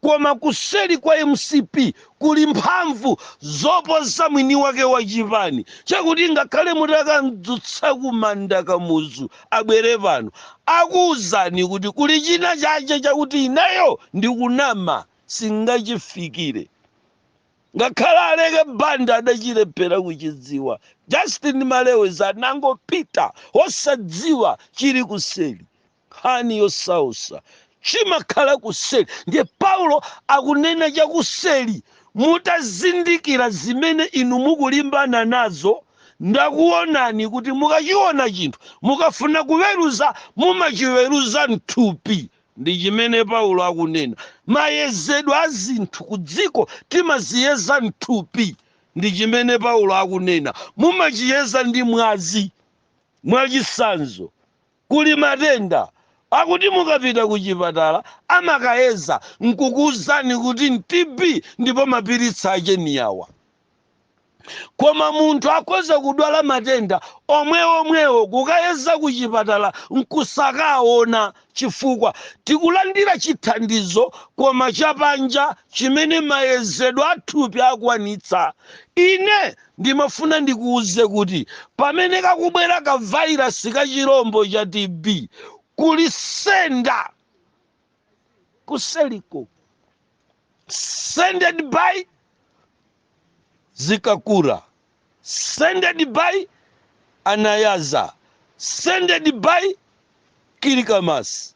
koma kuseli kwa mcp kuli mphamvu zoposa mwini wake wa chipani chakuti ngakhale mutakamdzutsa kumanda kamuzu abwere pano akuwuzani kuti kuli china chache chakuti ineyo ndikunama singachifikire Ngakhale Aleke Banda adachilephera kuchidziwa. Justin Malewezi anangopita osadziwa chili kuseli. Nkhani yosausa chimakhala kuseli ndiye Paulo akunena chakuseli mutazindikira zimene inu mukulimbana nazo ndakuonani kuti mukachiona chinthu mukafuna kuweruza mumachiweruza mthupi Ndi chimene Paulo akunena. Mayezedwe a zinthu ku dziko timaziyeza mthupi. Ndi chimene Paulo akunena. Mumachiyeza ndi mwazi. Mwachitsanzo, kuli matenda akuti mukapita ku chipatala amakayeza nkukuuzani kuti TB ndipo mapiritsi ache ni awa. koma munthu akhoza kudwala matenda omweomwewo kukayeza ku chipatala nkusakaawona chifukwa tikulandira chithandizo koma cha panja chimene mayezedwe a thupi akwanitsa. Ine ndimafuna ndikuuze kuti pamene kakubwera ka vairasi ka chirombo cha TB, kuli sender kuseliko sended by zikakura sended by anayaza sended by kilikamasi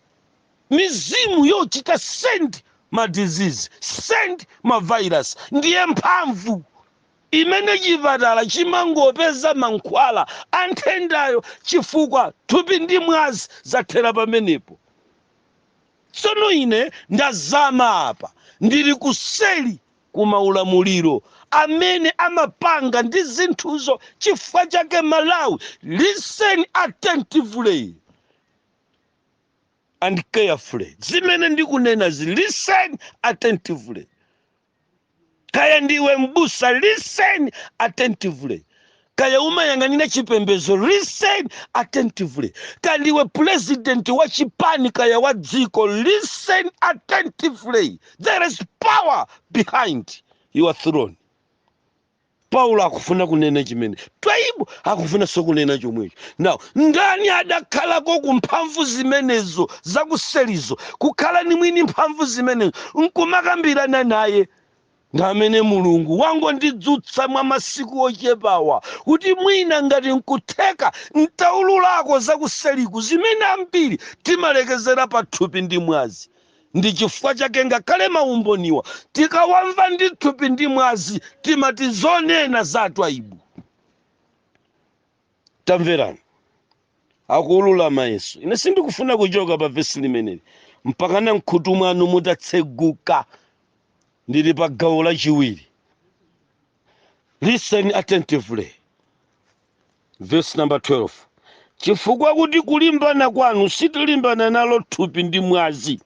mizimu yochita send ma disease send ma virus ndiye mphamvu imene chipatala chimangopeza mankhwala a nthendayo chifukwa thupi ndi mwazi zathera pamenepo Tsono ine ndazama apa, ndili kuseli ku maulamuliro amene amapanga ndi zinthuzo chifukwa chake Malawi listen attentively and carefully zimene ndikunenazi listen attentively. kaya ndiwe mbusa listen attentively kaya umayang'anira chipembedzo listen attentively kaya ndiwe president wa chipani kaya wa dziko listen attentively there is power behind your throne paulo akufuna kunena chimene Twaibu akufunanso kunena chomwecho now ndani adakhalako ku mphamvu zimenezo zakuselizo kukhala ni mwini mphamvu zimenezo nkumakambirana naye ndi amene mulungu wangondidzutsa mwa masiku ochepawa kuti mwina ngati nkutheka ntaululako zakuseliku zimene ambiri timalekezera pathupi ndi mwazi ndi chifukwa chake ngakhale maumboniwa tikawamva ndi thupi ndi mwazi timati zonena za atwaibu tamverani akuulula mayeso ine sindikufuna kuchoka pa vesi limeneli mpaka na mkhutu mwanu mutatseguka ndili pa gawo lachiwiri listen attentively verse number 12 chifukwa kuti kulimbana kwanu sitilimbana nalo thupi ndi mwazi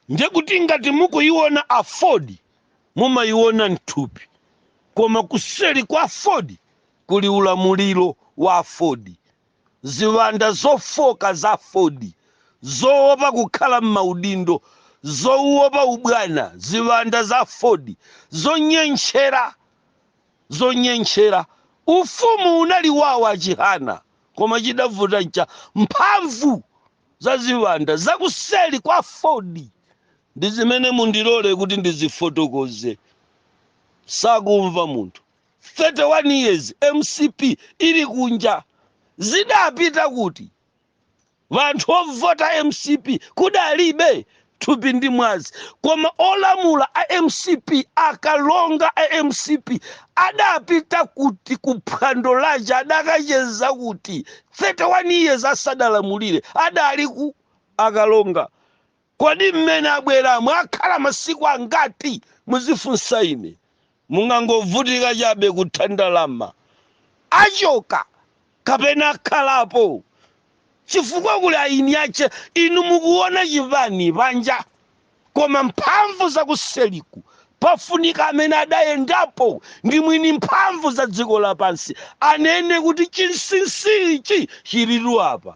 ndiye kuti ngati mukuyiona AFORD mumayiona mthupi koma kuseri kwa AFORD kuli ulamuliro wa AFORD Ziwanda zofooka za aford, zowopa kukhala mmaudindo, zowopa ubwana, ziwanda za aford, zonyentchera. Ufumu unali wao a Chihana, koma chidavuta ncha mphamvu za ziwanda za kuseri kwa aford. Ndizimene mundilole kuti ndizifotokoze. Sakumva munthu. 31 years mcp ili kunja zidapita kuti? Wanthu ovota mcp kudalibe? Thupi ndi mwazi koma olamula a mcp akalonga a mcp adapita kuti ku phwando laja adakacheza kuti 31 years asadalamulire adali ku akalonga Kodi mmene abweramo akhala masiku angati? muzifunsa ine. Mungangovutika chabe kutha ndalama. Achoka kapena akhalapo chifukwa kuli eni ache. Inu mukuwona chipani panja koma mphamvu zakuseliku pafunika amene adayendapo ndi mwini mphamvu za dziko lapansi anene kuti chinsinsi ichi chilitu apa.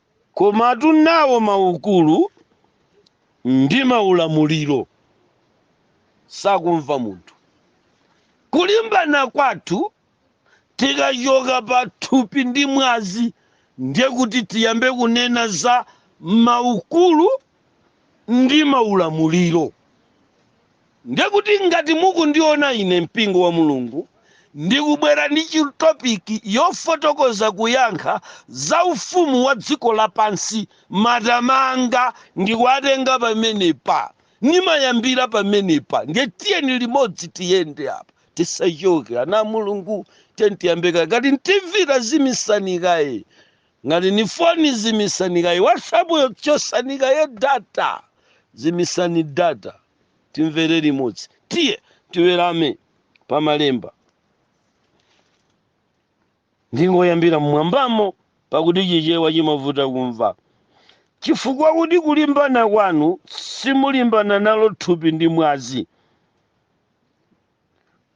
Koma tunawo maukulu ndi maulamuliro sakumva munthu. Kulimbana kwathu tikachoka pa thupi ndi mwazi ndiye kuti tiyambe kunena za maukulu ndi maulamuliro. Ndiye kuti ngati mukundiona ine mpingo wa Mulungu ndikubwera ndi chi topic yofotokoza kuyankha za ufumu wa dziko lapansi matama anga ndikuatenga pamenepa. Ndimayambira pamenepa ndiye tiyeni limodzi tiyende apa tisachoke ana a Mulungu tiyeni tiyambe kaye ngati ni TV tazimisani kaye ngati ni foni zimisani kaye WhatsApp yo chosani kaye data zimisani data timvere limodzi tiye tiwerenge pa malemba ndingoyambira mmwambamo pakuti chichewa chimavuta kumva chifukwa kuti kulimbana kwanu simulimbana nalo thupi ndi mwazi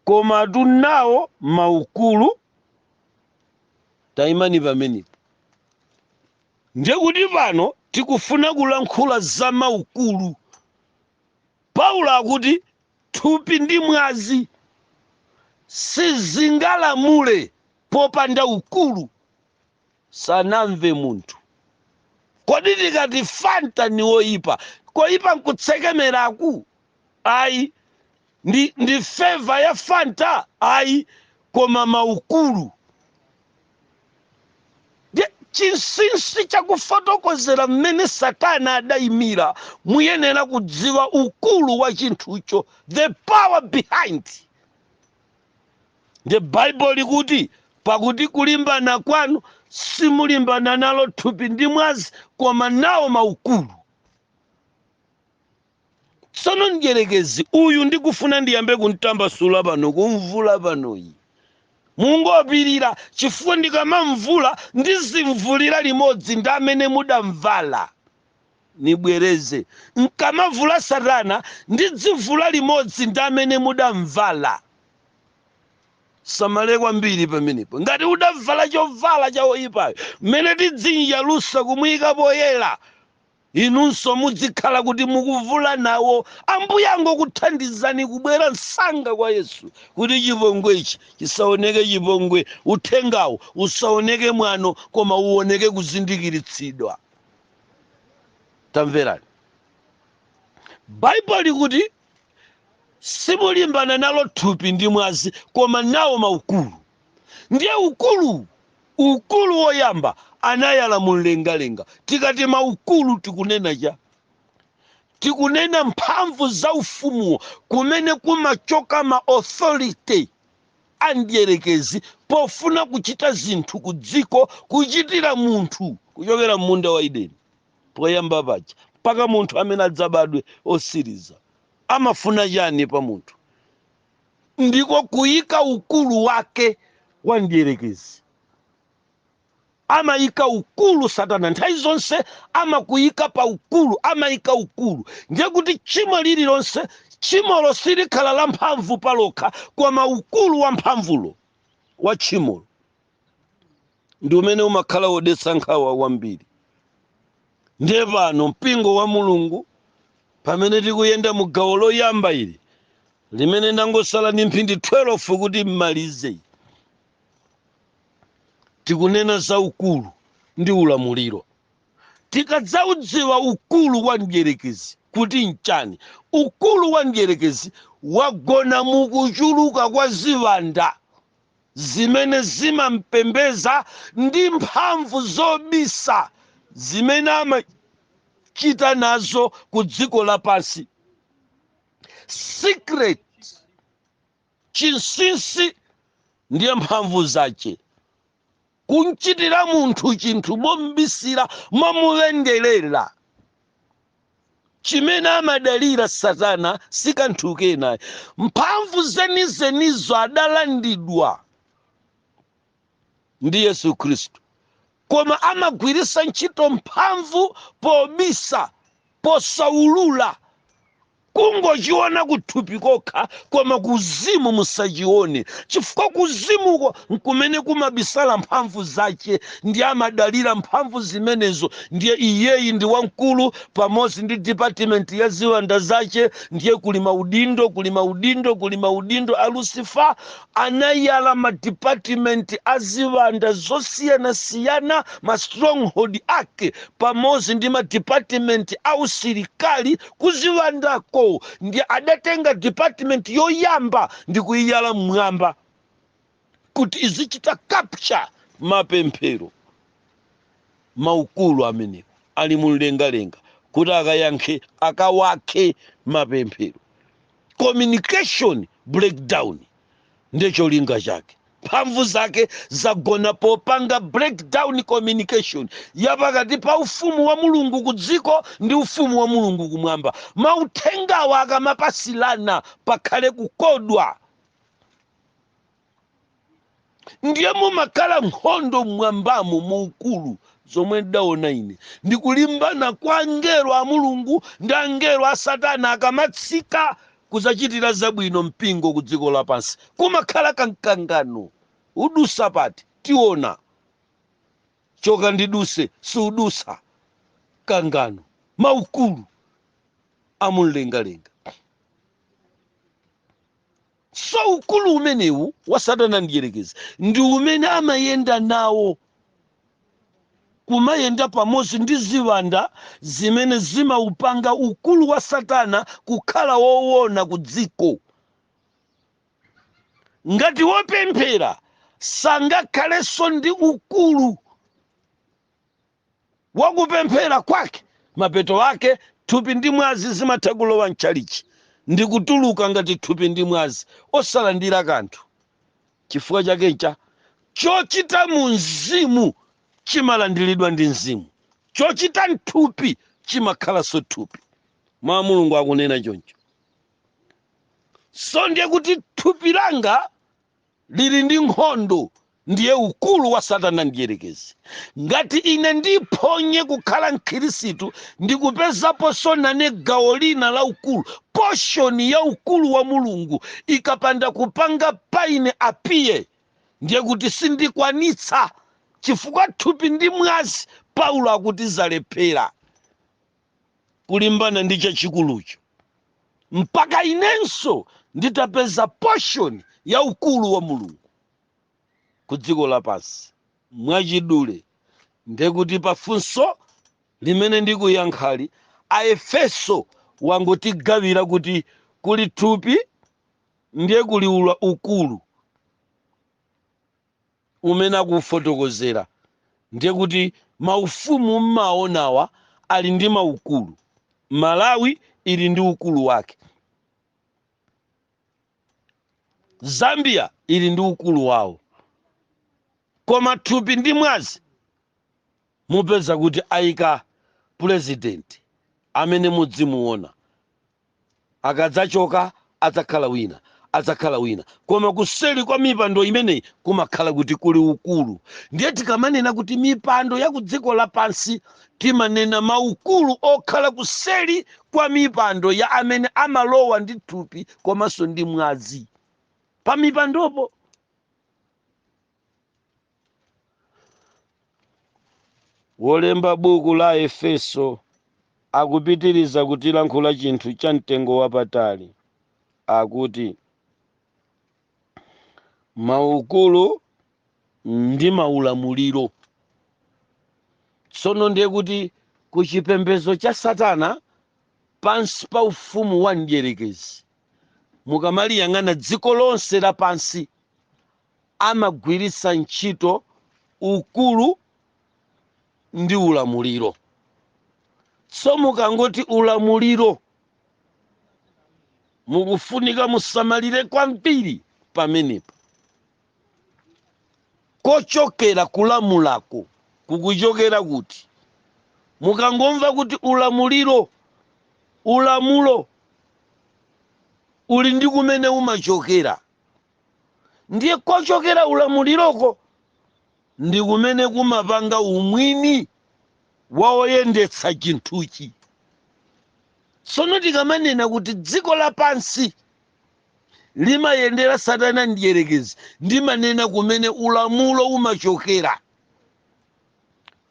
koma tunawo maukulu tayimani pamenepo Ndiye kuti pano tikufuna kulankhula za maukulu. Paulo akuti thupi ndi mwazi sizingalamule popanda ukulu. Sanamve munthu. Kodi tikati Fanta ni woipa, koipa n'kutsekemeraku? ayi ndi, ndi flavour ya fanta ayi koma maukulu Ndiye chinsinsi chakufotokozera mmene satana adayimira muyenera kudziwa ukulu wa chinthucho the power behind ndiye baibulo likuti pakuti kulimbana kwanu simulimbana nalo thupi ndi mwazi koma nawo maukulu tsono mdyerekezi uyu ndikufuna ndiyambe kumtambasula pano kumvula panoyi mungopirira chifukwa ndikamamvula ndizimvulira limodzi ndi amene mudamvala nibwereze nkamavula satana ndizimvula limodzi ndi amene mudamvala samale kwambiri pamenepo ngati udavala chovala cha oyipayo mmene tidzimuyalutsa kumuyika poyera Inunso mudzikhala kuti mukuvula nawo. Ambuye angokuthandizani kubwera msanga kwa Yesu kuti chipongwe ichi chisaoneke chipongwe, uthengawu usaoneke mwano koma uoneke kuzindikiritsidwa. Tamverani. Bible likuti. simulimbana nalo thupi ndi mwazi koma nawo maukulu ndiye ukulu ukulu woyamba anayala mumlengalenga tikati maukulu tikunena cha tikunena mphamvu za ufumuwo kumene kumachoka ma authority a mdierekezi pofuna kuchita zinthu ku dziko kuchitira munthu kuchokera m'munda wa edeni poyamba paja mpaka munthu amene adzabadwe osiriza amafuna chani pa munthu ndiko kuyika ukulu wake wa mdierekezi amayika ukulu satana nthawi zonse amakuyika pa ukulu amayika ukulu ndiye kuti tchimo lililonse tchimolo silikhala la mphamvu palokha koma ukulu wa mphamvulo wa tchimolo ndi umene umakhala wodetsa nkhawa wambiri ndiye pano mpingo wa mulungu pamene tikuyenda mu gawo loyamba ili limene ndangosala ndi mphindi 12 kuti mmalize tikunena za ukulu ndi ulamuliro tikadzaudziwa ukulu wa mdyerekezi kuti nchani ukulu wa mdyerekezi wagona mukuchuluka kwa ziwanda zimene zimampembeza ndi mphamvu zobisa zimene amachita nazo ku dziko lapansi secret chinsinsi ndiye mphamvu zache kumchitira munthu chinthu mombisira momulengerera chimene amadalira satana sikanthu kena ayi mphamvu zenizenizo adalandidwa ndi yesu khristu koma amagwirisa ntchito mphamvu pobisa posaulula kungochiona kuthupi kokha koma kuzimu musachione chifukwa kuzimuko nkumene kumabisala mphamvu zache ndiye amadalira mphamvu zimenezo ndiye iyeyi ndi wamkulu pamodzi ndi department ya ziwanda zache ndiye kuli maudindo kuli maudindo kuli maudindo a lucifer anayala madepartment a ziwanda zosiyanasiyana ma stronghold ake pamodzi ndi madepartment a usilikali Ku ziwandako ndiye adatenga department yoyamba ndi kuiyala mmwamba kuti izichita capture mapemphero. Maukulu amenewa ali mumlengalenga kuti akayankhe, akawakhe mapemphero. Communication breakdown ndiye cholinga chake mphamvu zake zagona popanga breakdown communication ya pakati pa ufumu wa mulungu ku dziko ndi ufumu wa mulungu kumwamba mauthengawa akamapasilana pakhale kukodwa ndiye mumakhala nkhondo mmwambamo mu ukulu zomwe ndidaona ine ndikulimbana kwa angelo a mulungu ndi angelo a satana akamatsika Kudzachitira zabwino mpingo kudziko lapansi kumakhala ka mkangano. Udusa pati? Tiona. Choka ndiduse, siudusa. Mkangano. Maukulu a mumlengalenga. So ukulu umenewu wa Satana Mdyerekezi ndi umene amayenda nawo. kumayenda pamodzi ndi ziwanda zimene zimaupanga ukulu wa Satana kukhala woona ku dziko. Ngati wopemphera sangakhalenso ndi ukulu wa kupemphera kwake, mapeto ake thupi ndi mwazi zimatha kulowa m'tchalitchi ndi kutuluka ngati thupi ndi mwazi, osalandira kanthu. Chifukwa chake ncha, Chochita mu mzimu chimalandiridwa ndi mzimu, chochita m'thupi chimakhalanso thupi. Mau a Mulungu akunena choncho. So ndiye kuti thupi langa liri ndi nkhondo, ndiye ukulu wa Satana Mdierekezi. ngati ine ndiphonye kukhala mkhristu ndikupezaponso nane gawo lina la ukulu poshoni ya ukulu wa mulungu ikapanda kupanga pa ine apiye ndiye kuti sindikwanitsa chifukwa thupi ndi mwazi paulo akuti zalephera kulimbana ndi chachikulucho mpaka inenso nditapeza poshoni ya ukulu wa mulungu ku dziko lapansi mwachidule ndekuti pa funso limene ndikuyankhali aefeso wangotigawira kuti kuli thupi ndiye kuli ula ukulu umene akufotokozera ndiye kuti maufumu mumaonawa ali ndi maukulu malawi ili ndi ukulu wake zambia ili ndi ukulu wawo koma thupi ndi mwazi mupeza kuti ayika pulezidenti amene mudzimuona akadzachoka adzakhala wina adzakhala wina koma kuseri kwa mipando imeneyi kumakhala kuti kuli ukulu ndiye tikamanena kuti mipando ya ku dziko lapansi Timanena maukulu okhala kuseli kwa mipando ya amene amalowa ndi thupi komanso ndi mwazi. Pamipandopo Wolemba buku la Efeso akupitiriza kutilankhula chinthu cha mtengo wapatali. Akuti. maukulu ndi maulamuliro tsono ndiye kuti ku chipembedzo cha satana pansi pa ufumu wa mdyerekezi mukamaliyang'ana dziko lonse lapansi amagwiritsa ntchito ukulu ndi ulamuliro so mukangoti ulamuliro mukufunika musamalire kwambiri pamenepo kochokera kulamulako kukuchokera kuti mukangomva kuti ulamuliro ulamulo uli ndi kumene umachokera ndiye kochokera ulamuliroko ndi kumene kumapanga umwini wa oyendetsa chinthuchi. Tsono tikamanena kuti dziko lapansi limayendera Satana Mdyerekezi, ndimanena kumene ulamulo umachokera.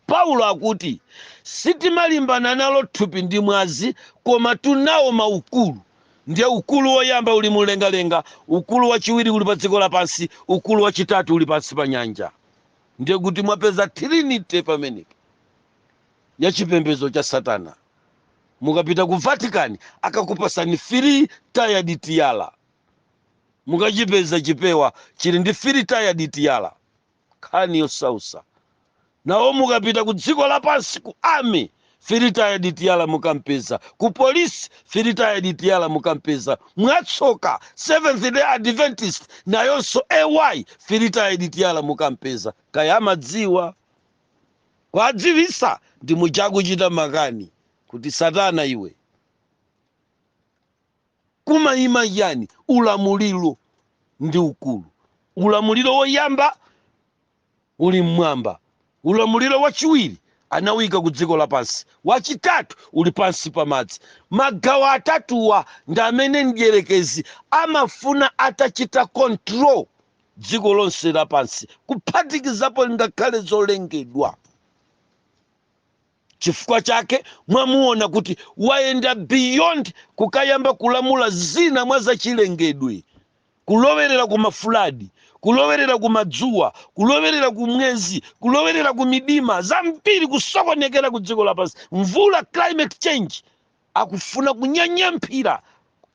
Paulo akuti, Sitimalimbana nalo thupi ndi mwazi, komatu nawo maukulu, Ndiye ukulu woyamba uli mumlengalenga, ukulu wachiwiri uli padziko lapansi, ukulu wachitatu uli pansi pa nyanja. Ndiye kuti mwapeza Trinity pamenepo ya chipembedzo cha Satana. Mukapita ku Vatican akakupatsani three tiered tiara, mukachipeza chipewa chili ndi three tiered tiara. nkhani yosautsa nawo mukapita ku dziko lapansi ku army three tiered tiara mukampeza ku polisi three tiered tiara mukampeza mwatsoka seventh day adventist nayonso ay three tiered tiara mukampeza kaya amadziwa kwadziwisa ndi mujakuchita makani kuti satana iwe kumaima chiyani ulamuliro ndi ukulu ulamuliro woyamba uli mmwamba ulamuliro wachiwiri anawuyika ku dziko lapansi wachitatu uli pansi pa madzi magawo atatuwa ndi amene mdyerekezi amafuna atachita control dziko lonse lapansi kuphatikizapo ngakhale zolengedwa Chifukwa chake mwamuona kuti wayenda beyond kukayamba kulamula zina mwa zachilengedwe, kulowerera ku mafuladi, kulowerera ku madzuwa, kulowerera ku mwezi, kulowerera ku midima, zambiri kusokonekera ku dziko lapansi, mvula, climate change. akufuna kunyanyamphira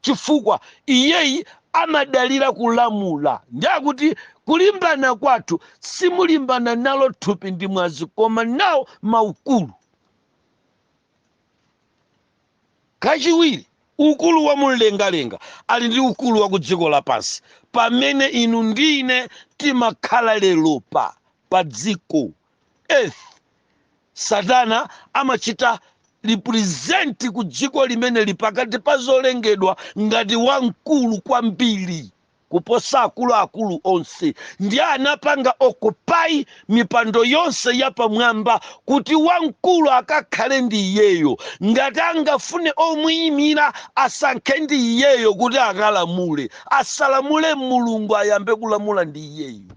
chifukwa iyeyi amadalira kulamula ndi akuti kulimbana kwathu simulimbana nalo thupi ndi mwazi koma nawo maukulu kachiwiri ukulu wa mumlengalenga ali ndi ukulu wa ku dziko lapansi pamene inu ndi ine timakhala lero pa dziko earth satana amachita represent ku dziko limeneli pakati pa zolengedwa ngati wamkulu kwambiri kuposa akuluakulu onse ndi anapanga occupy mipando yonse yapamwamba kuti wamkulu akakhale ndi iyeyo ngati angafune omuyimira asankhe ndi iyeyo kuti akalamule asalamule mulungu ayambe kulamula ndi iyeyo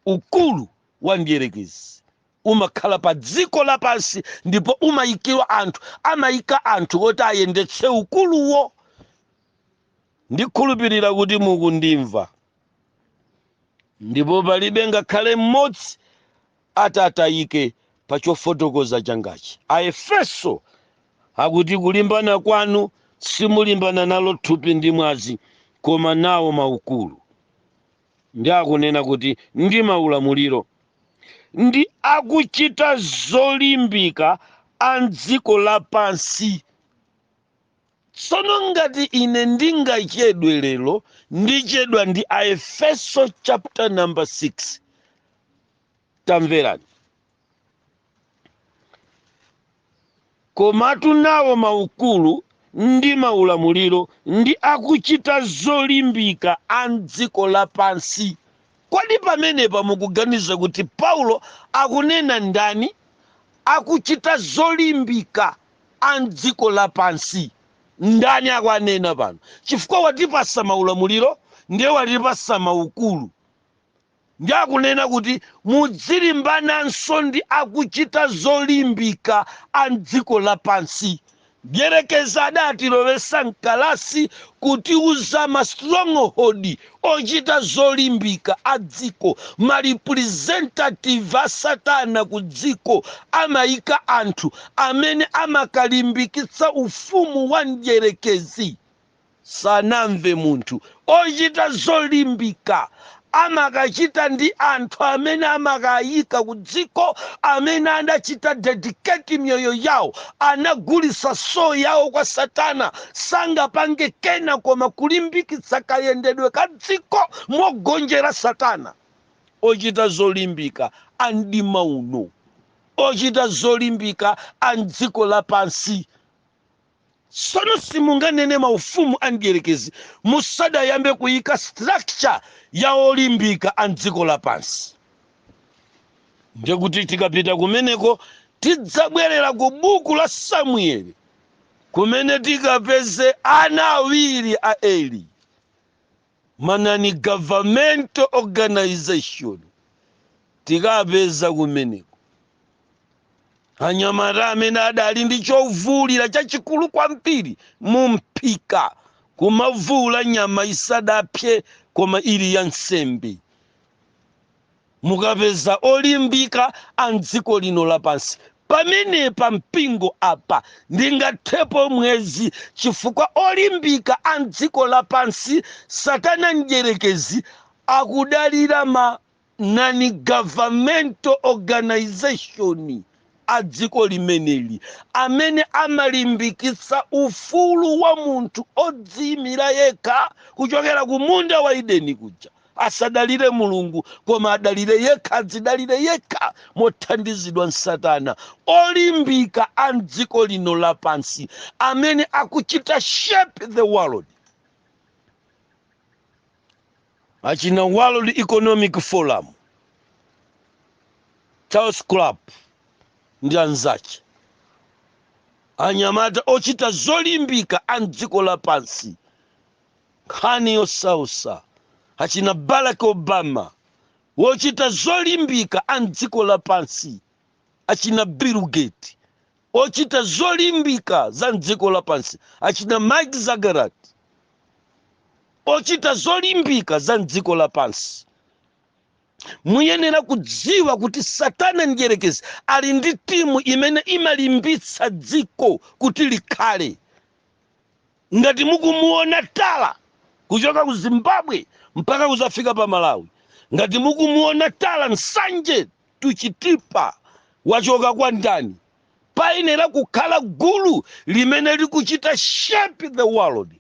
Ukulu wa mdierekezi umakhala pa dziko lapansi ndipo umayikira anthu, amayika anthu oti ayendetse ukuluwo. Ndikhulupirira kuti mukundimva. Ndipo palibe ngakhale mmodzi ati atayike pa chofotokoza changachi. Aefeso akuti kulimbana kwanu simulimbana nalo thupi ndi mwazi, koma nawo maukulu. ndi akunena kuti ndi maulamuliro ndi akuchita zolimbika a m'dziko lapansi tsono ngati ine ndingachedwe lero ndichedwa ndi aefeso chapter number 6 tamverani Komatu nawo maukulu ndi maulamuliro ndi akuchita zolimbika a m'dziko lapansi. Kodi pamenepa mukuganiza kuti Paulo akunena ndani? Akuchita zolimbika a m'dziko lapansi. Ndani akuwanena pano? Chifukwa watipasa maulamuliro ndiye watipasa maukulu. Ndiye akunena kuti mudzilimbananso ndi akuchita zolimbika a m'dziko lapansi. Mdyerekezi adatilowetsa m'kalasi kutiuza ma stronghold ochita zolimbika a dziko, ma representative a satana ku dziko amaika anthu amene amakalimbikitsa ufumu wa mdyerekezi. Sanamve munthu ochita zolimbika amakachita ndi anthu amene amakaika ku dziko amene anachita dedicate miyoyo yawo anagulitsa soul yawo kwa satana sangapange kena koma kulimbikitsa kayendedwe ka dziko mogonjera satana ochita zolimbika amdima uno ochita zolimbika amdziko lapansi sono simunganene maufumu a mdierekezi musadayambe kuyika structure ya olimbika a mdziko lapansi ndiye kuti tikapita kumeneko tidzabwerera ku buku la samueli kumene tikapeze ana awiri a eli ma non-governmental organization tikapeza kumeneko anyamata amene adali ndi chovulira chachikulu kwambiri mu mphika kumavuula nyama isadapse koma ili ya nsembe mukapeza olimbika a mdziko lino lapansi pamenepa mpingo apa ndingathepo mwezi chifukwa olimbika a mdziko lapansi satana mdyerekezi akudalira ma non-governmental organization a dziko limeneli amene amalimbikitsa ufulu wa munthu odziyimira yekha kuchokera ku munda wa Edeni kuja. Asadalire Mulungu koma adalire yekha, adzidalire yekha mothandizidwa n'Satana. Olimbika a m'dziko lino lapansi amene akuchita shape the world. achina world economic forum klaus schwab ndi anzace anyamata ochita zolimbika a mdziko lapansi nkhani yosausa achina barack obama wochita zolimbika a mdziko lapansi achina bill gates ochita zolimbika za mdziko lapansi achina mark zuckerberg ochita zolimbika za mdziko lapansi muyenera kudziwa kuti satana mdyerekezi ali ndi timu imene imalimbitsa dziko kuti likhale Ngati mukumuona tala kuchoka ku Zimbabwe mpaka kuzafika pa Malawi, ngati mukumuona tala Nsanje to Chitipa wachoka kwa ndani? Payenera kukhala gulu limene likuchita shape the world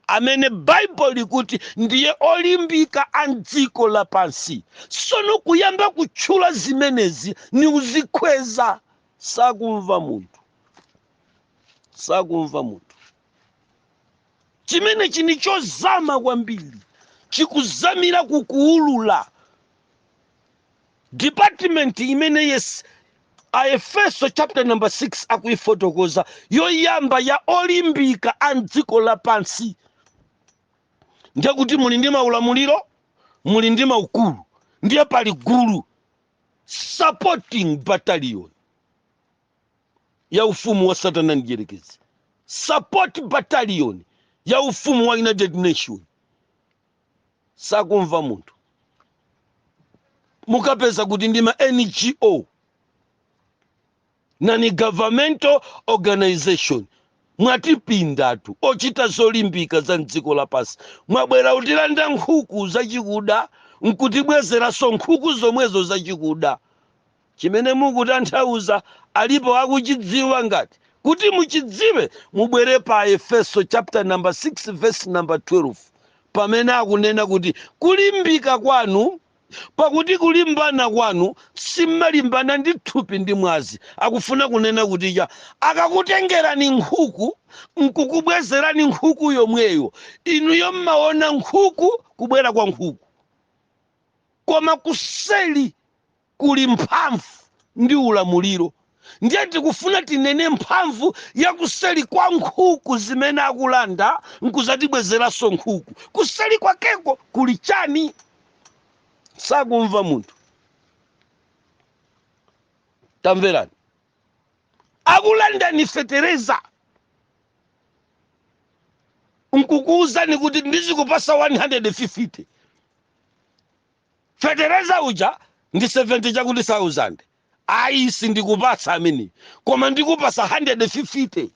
amene bible likuti ndiye olimbika a mdziko lapansi. Sono kuyamba kutchula zimenezi n'kuzikweza sakumva munthu. sakumva munthu chimenechi ni chozama kwambiri chikuzamira kukuulula department imene yes aefeso chapter number 6 akuifotokoza yoyamba ya olimbika a mdziko lapansi ndiye kuti muli ndi maulamuliro muli ndi maukulu ndiye pali gulu supporting battalion ya ufumu wa satana mdyerekezi support battalion ya ufumu wa united nation sakumva munthu mukapeza kuti ndi ma ngo non governmental organization mwatipindatu ochita zolimbika za mdziko lapansi mwabwera kutilanda nkhuku zachikuda nkutibwezeranso nkhuku zomwezo zachikuda chimene mukutanthauza alipo akuchidziwa ngati kuti muchidziwe mubwere pa Aefeso chapter number 6 verse number 12 pamene akunena kuti kulimbika kwanu pakuti kulimbana kwanu simmalimbana ndi thupi ndi mwazi akufuna kunena kuti cha akakutengerani nkhuku nkukubwezerani nkhuku yomweyo inuyo mmaona nkhuku kubwera kwa nkhuku koma kuseli kuli mphamvu ndi ulamuliro ndiye tikufuna tinene mphamvu ya kuseli kwa nkhuku zimene akulanda nkuzatibwezeranso nkhuku. Kuseli kwakeko kuli chani? Sakumva munthu. Tamverani, akulandani fetereza nkukuuzani kuti ndizikupasa 150 fetereza uja ndi 70 chakuti thousand ayi sindikupatsa ameneyo koma ndikupasa 150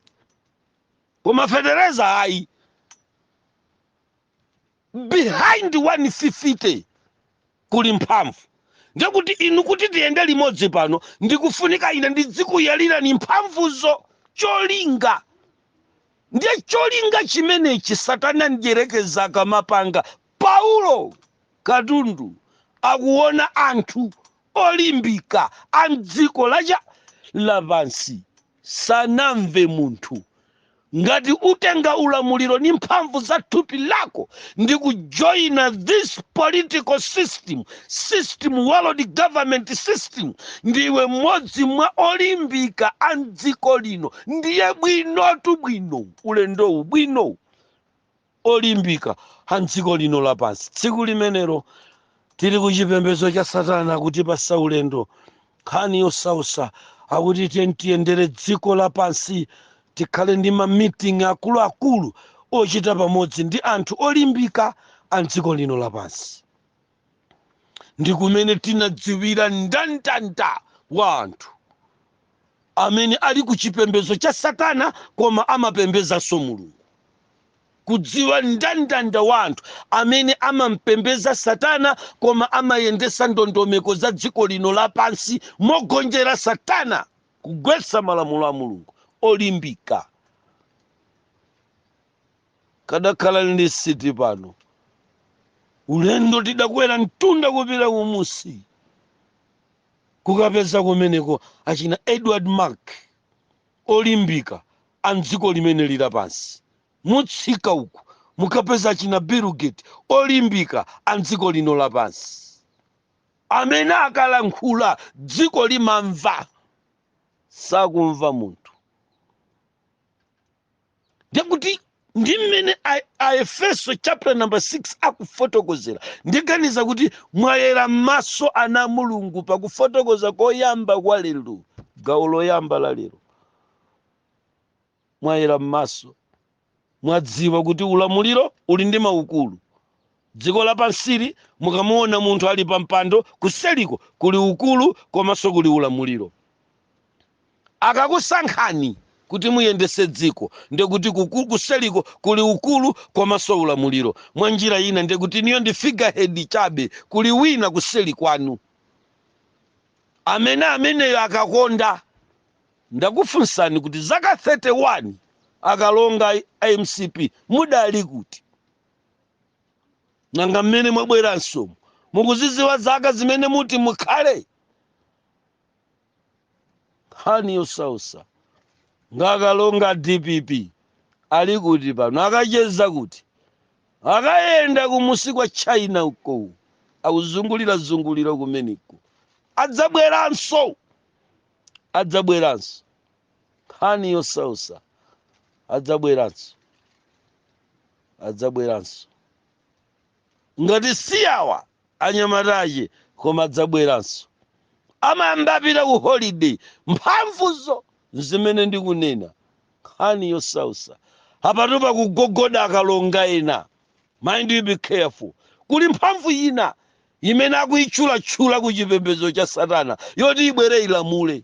koma fetereza ayi behind 150 kuli mphamvu ndiye kuti inu kuti tiyende limodzi pano ndikufunika ine ndidzikuyalirani mphamvuzo cholinga ndiye cholinga chimenechi satana mdyerekezi akamapanga Paulo katundu akuona anthu olimbika a m'dziko la cha lapansi sakumva munthu. Ngati utenga ulamuliro ndi mphamvu za thupi lako ndi kujoina this political system, system world government system, ndiwe mmodzi mwa olimbika a m'dziko lino. Ndiye bwinotu bwino ulendowu bwino. olimbika a m'dziko lino lapansi tsiku limenelo tili ku chipembedzo cha satana kutipasa ulendo nkhani yosausa akuti tiyeni tiyendere dziko lapansi tikhale ndi mamiting akuluakulu ochita pamodzi ndi anthu olimbika a m'dziko lino lapansi ndi kumene tinadziwira mndandanda wa anthu amene ali ku chipembedzo cha satana koma amapembedzanso mulungu kudziwa mndandanda wa anthu amene amampembedza satana koma amayendesa ndondomeko za dziko lino lapansi mogonjera satana kugwetsa malamulo a mulungu olimbika kadakhala ndi city pano ulendo tidakwera mtunda kupita kumusi kukapeza kumeneko achina edward mark olimbika a mdziko limene lili lapansi mutsika uku mukapeza achina bill gates olimbika a mdziko lino lapansi amene akalankhula dziko limamva sakumva munthu ndekuti ndi mmene a- aefeso chapter number 6 akufotokozera ndiganiza kuti mwayera m'maso ana a mulungu pakufotokoza koyamba kwa lero gawo loyamba la lero mwayera m'maso mwadziwa kuti ulamuliro uli ndi maukulu Dziko lapansili mukamuona munthu ali pa mpando kuseliko kuli ukulu komaso kuli ulamuliro. Akakusankhani kuti muyendese dziko ndekuti kuseliko kuli ukulu komaso ulamuliro. Mwa njira ina ndekuti inuyo ndi figure head chabe kuli wina kuseli kwanu. Amene ameneyo akakonda. Ndakufunsani kuti zaka 31 akalonga a mcp mudali kuti? nanga mmene mwabweransomu mukuziziwa zaka zimene muti mukhale nkhani yosausa nanga akalonga dpp ali kuti pano akacheza kuti akayenda kumusi kwa china uko akuzungulira zungulira kumeneko adzabweranso adzabweranso nkhani yosausa adzabweranso adzabweranso ngati si awa anyamata ache koma adzabweranso amayamba apita ku holiday mphamvuzo zimene ndikunena nkhani yosausa apatu pakugogoda akalonga ena mind you be careful kuli mphamvu ina imene akuitchulatchula ku chipembedzo cha satana yoti ibwere ilamule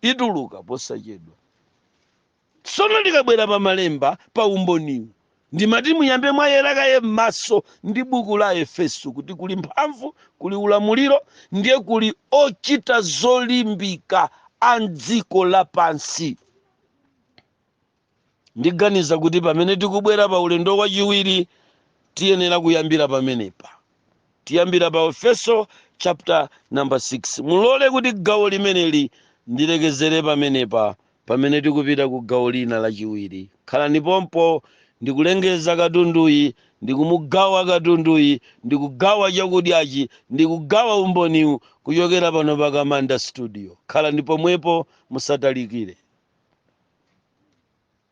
ituluka posachedwa Tsono ndikabwera pa malemba pa umboniwu, ndimati muyambe mwayera kaye m'maso ndi buku la Efeso kuti kuli mphamvu, kuli ulamuliro, ndiye kuli ochita zolimbika a m'dziko lapansi. Ndiganiza kuti pamene tikubwera pa ulendo wachiwiri tiyenera kuyambira pamenepa. Tiyambira pa Efeso chapter number 6. Mulole kuti gawo limeneli ndilekezere pamenepa Pamene tikupita ku gawo lina lachiwiri, khalani pompo ndikulengeza katunduyi, ndikumugawa katunduyi, ndikugawa chakudyachi, ndikugawa umboniwu kuchokera pano pa Kamanda Studio. Khalani pomwepo, musatalikire.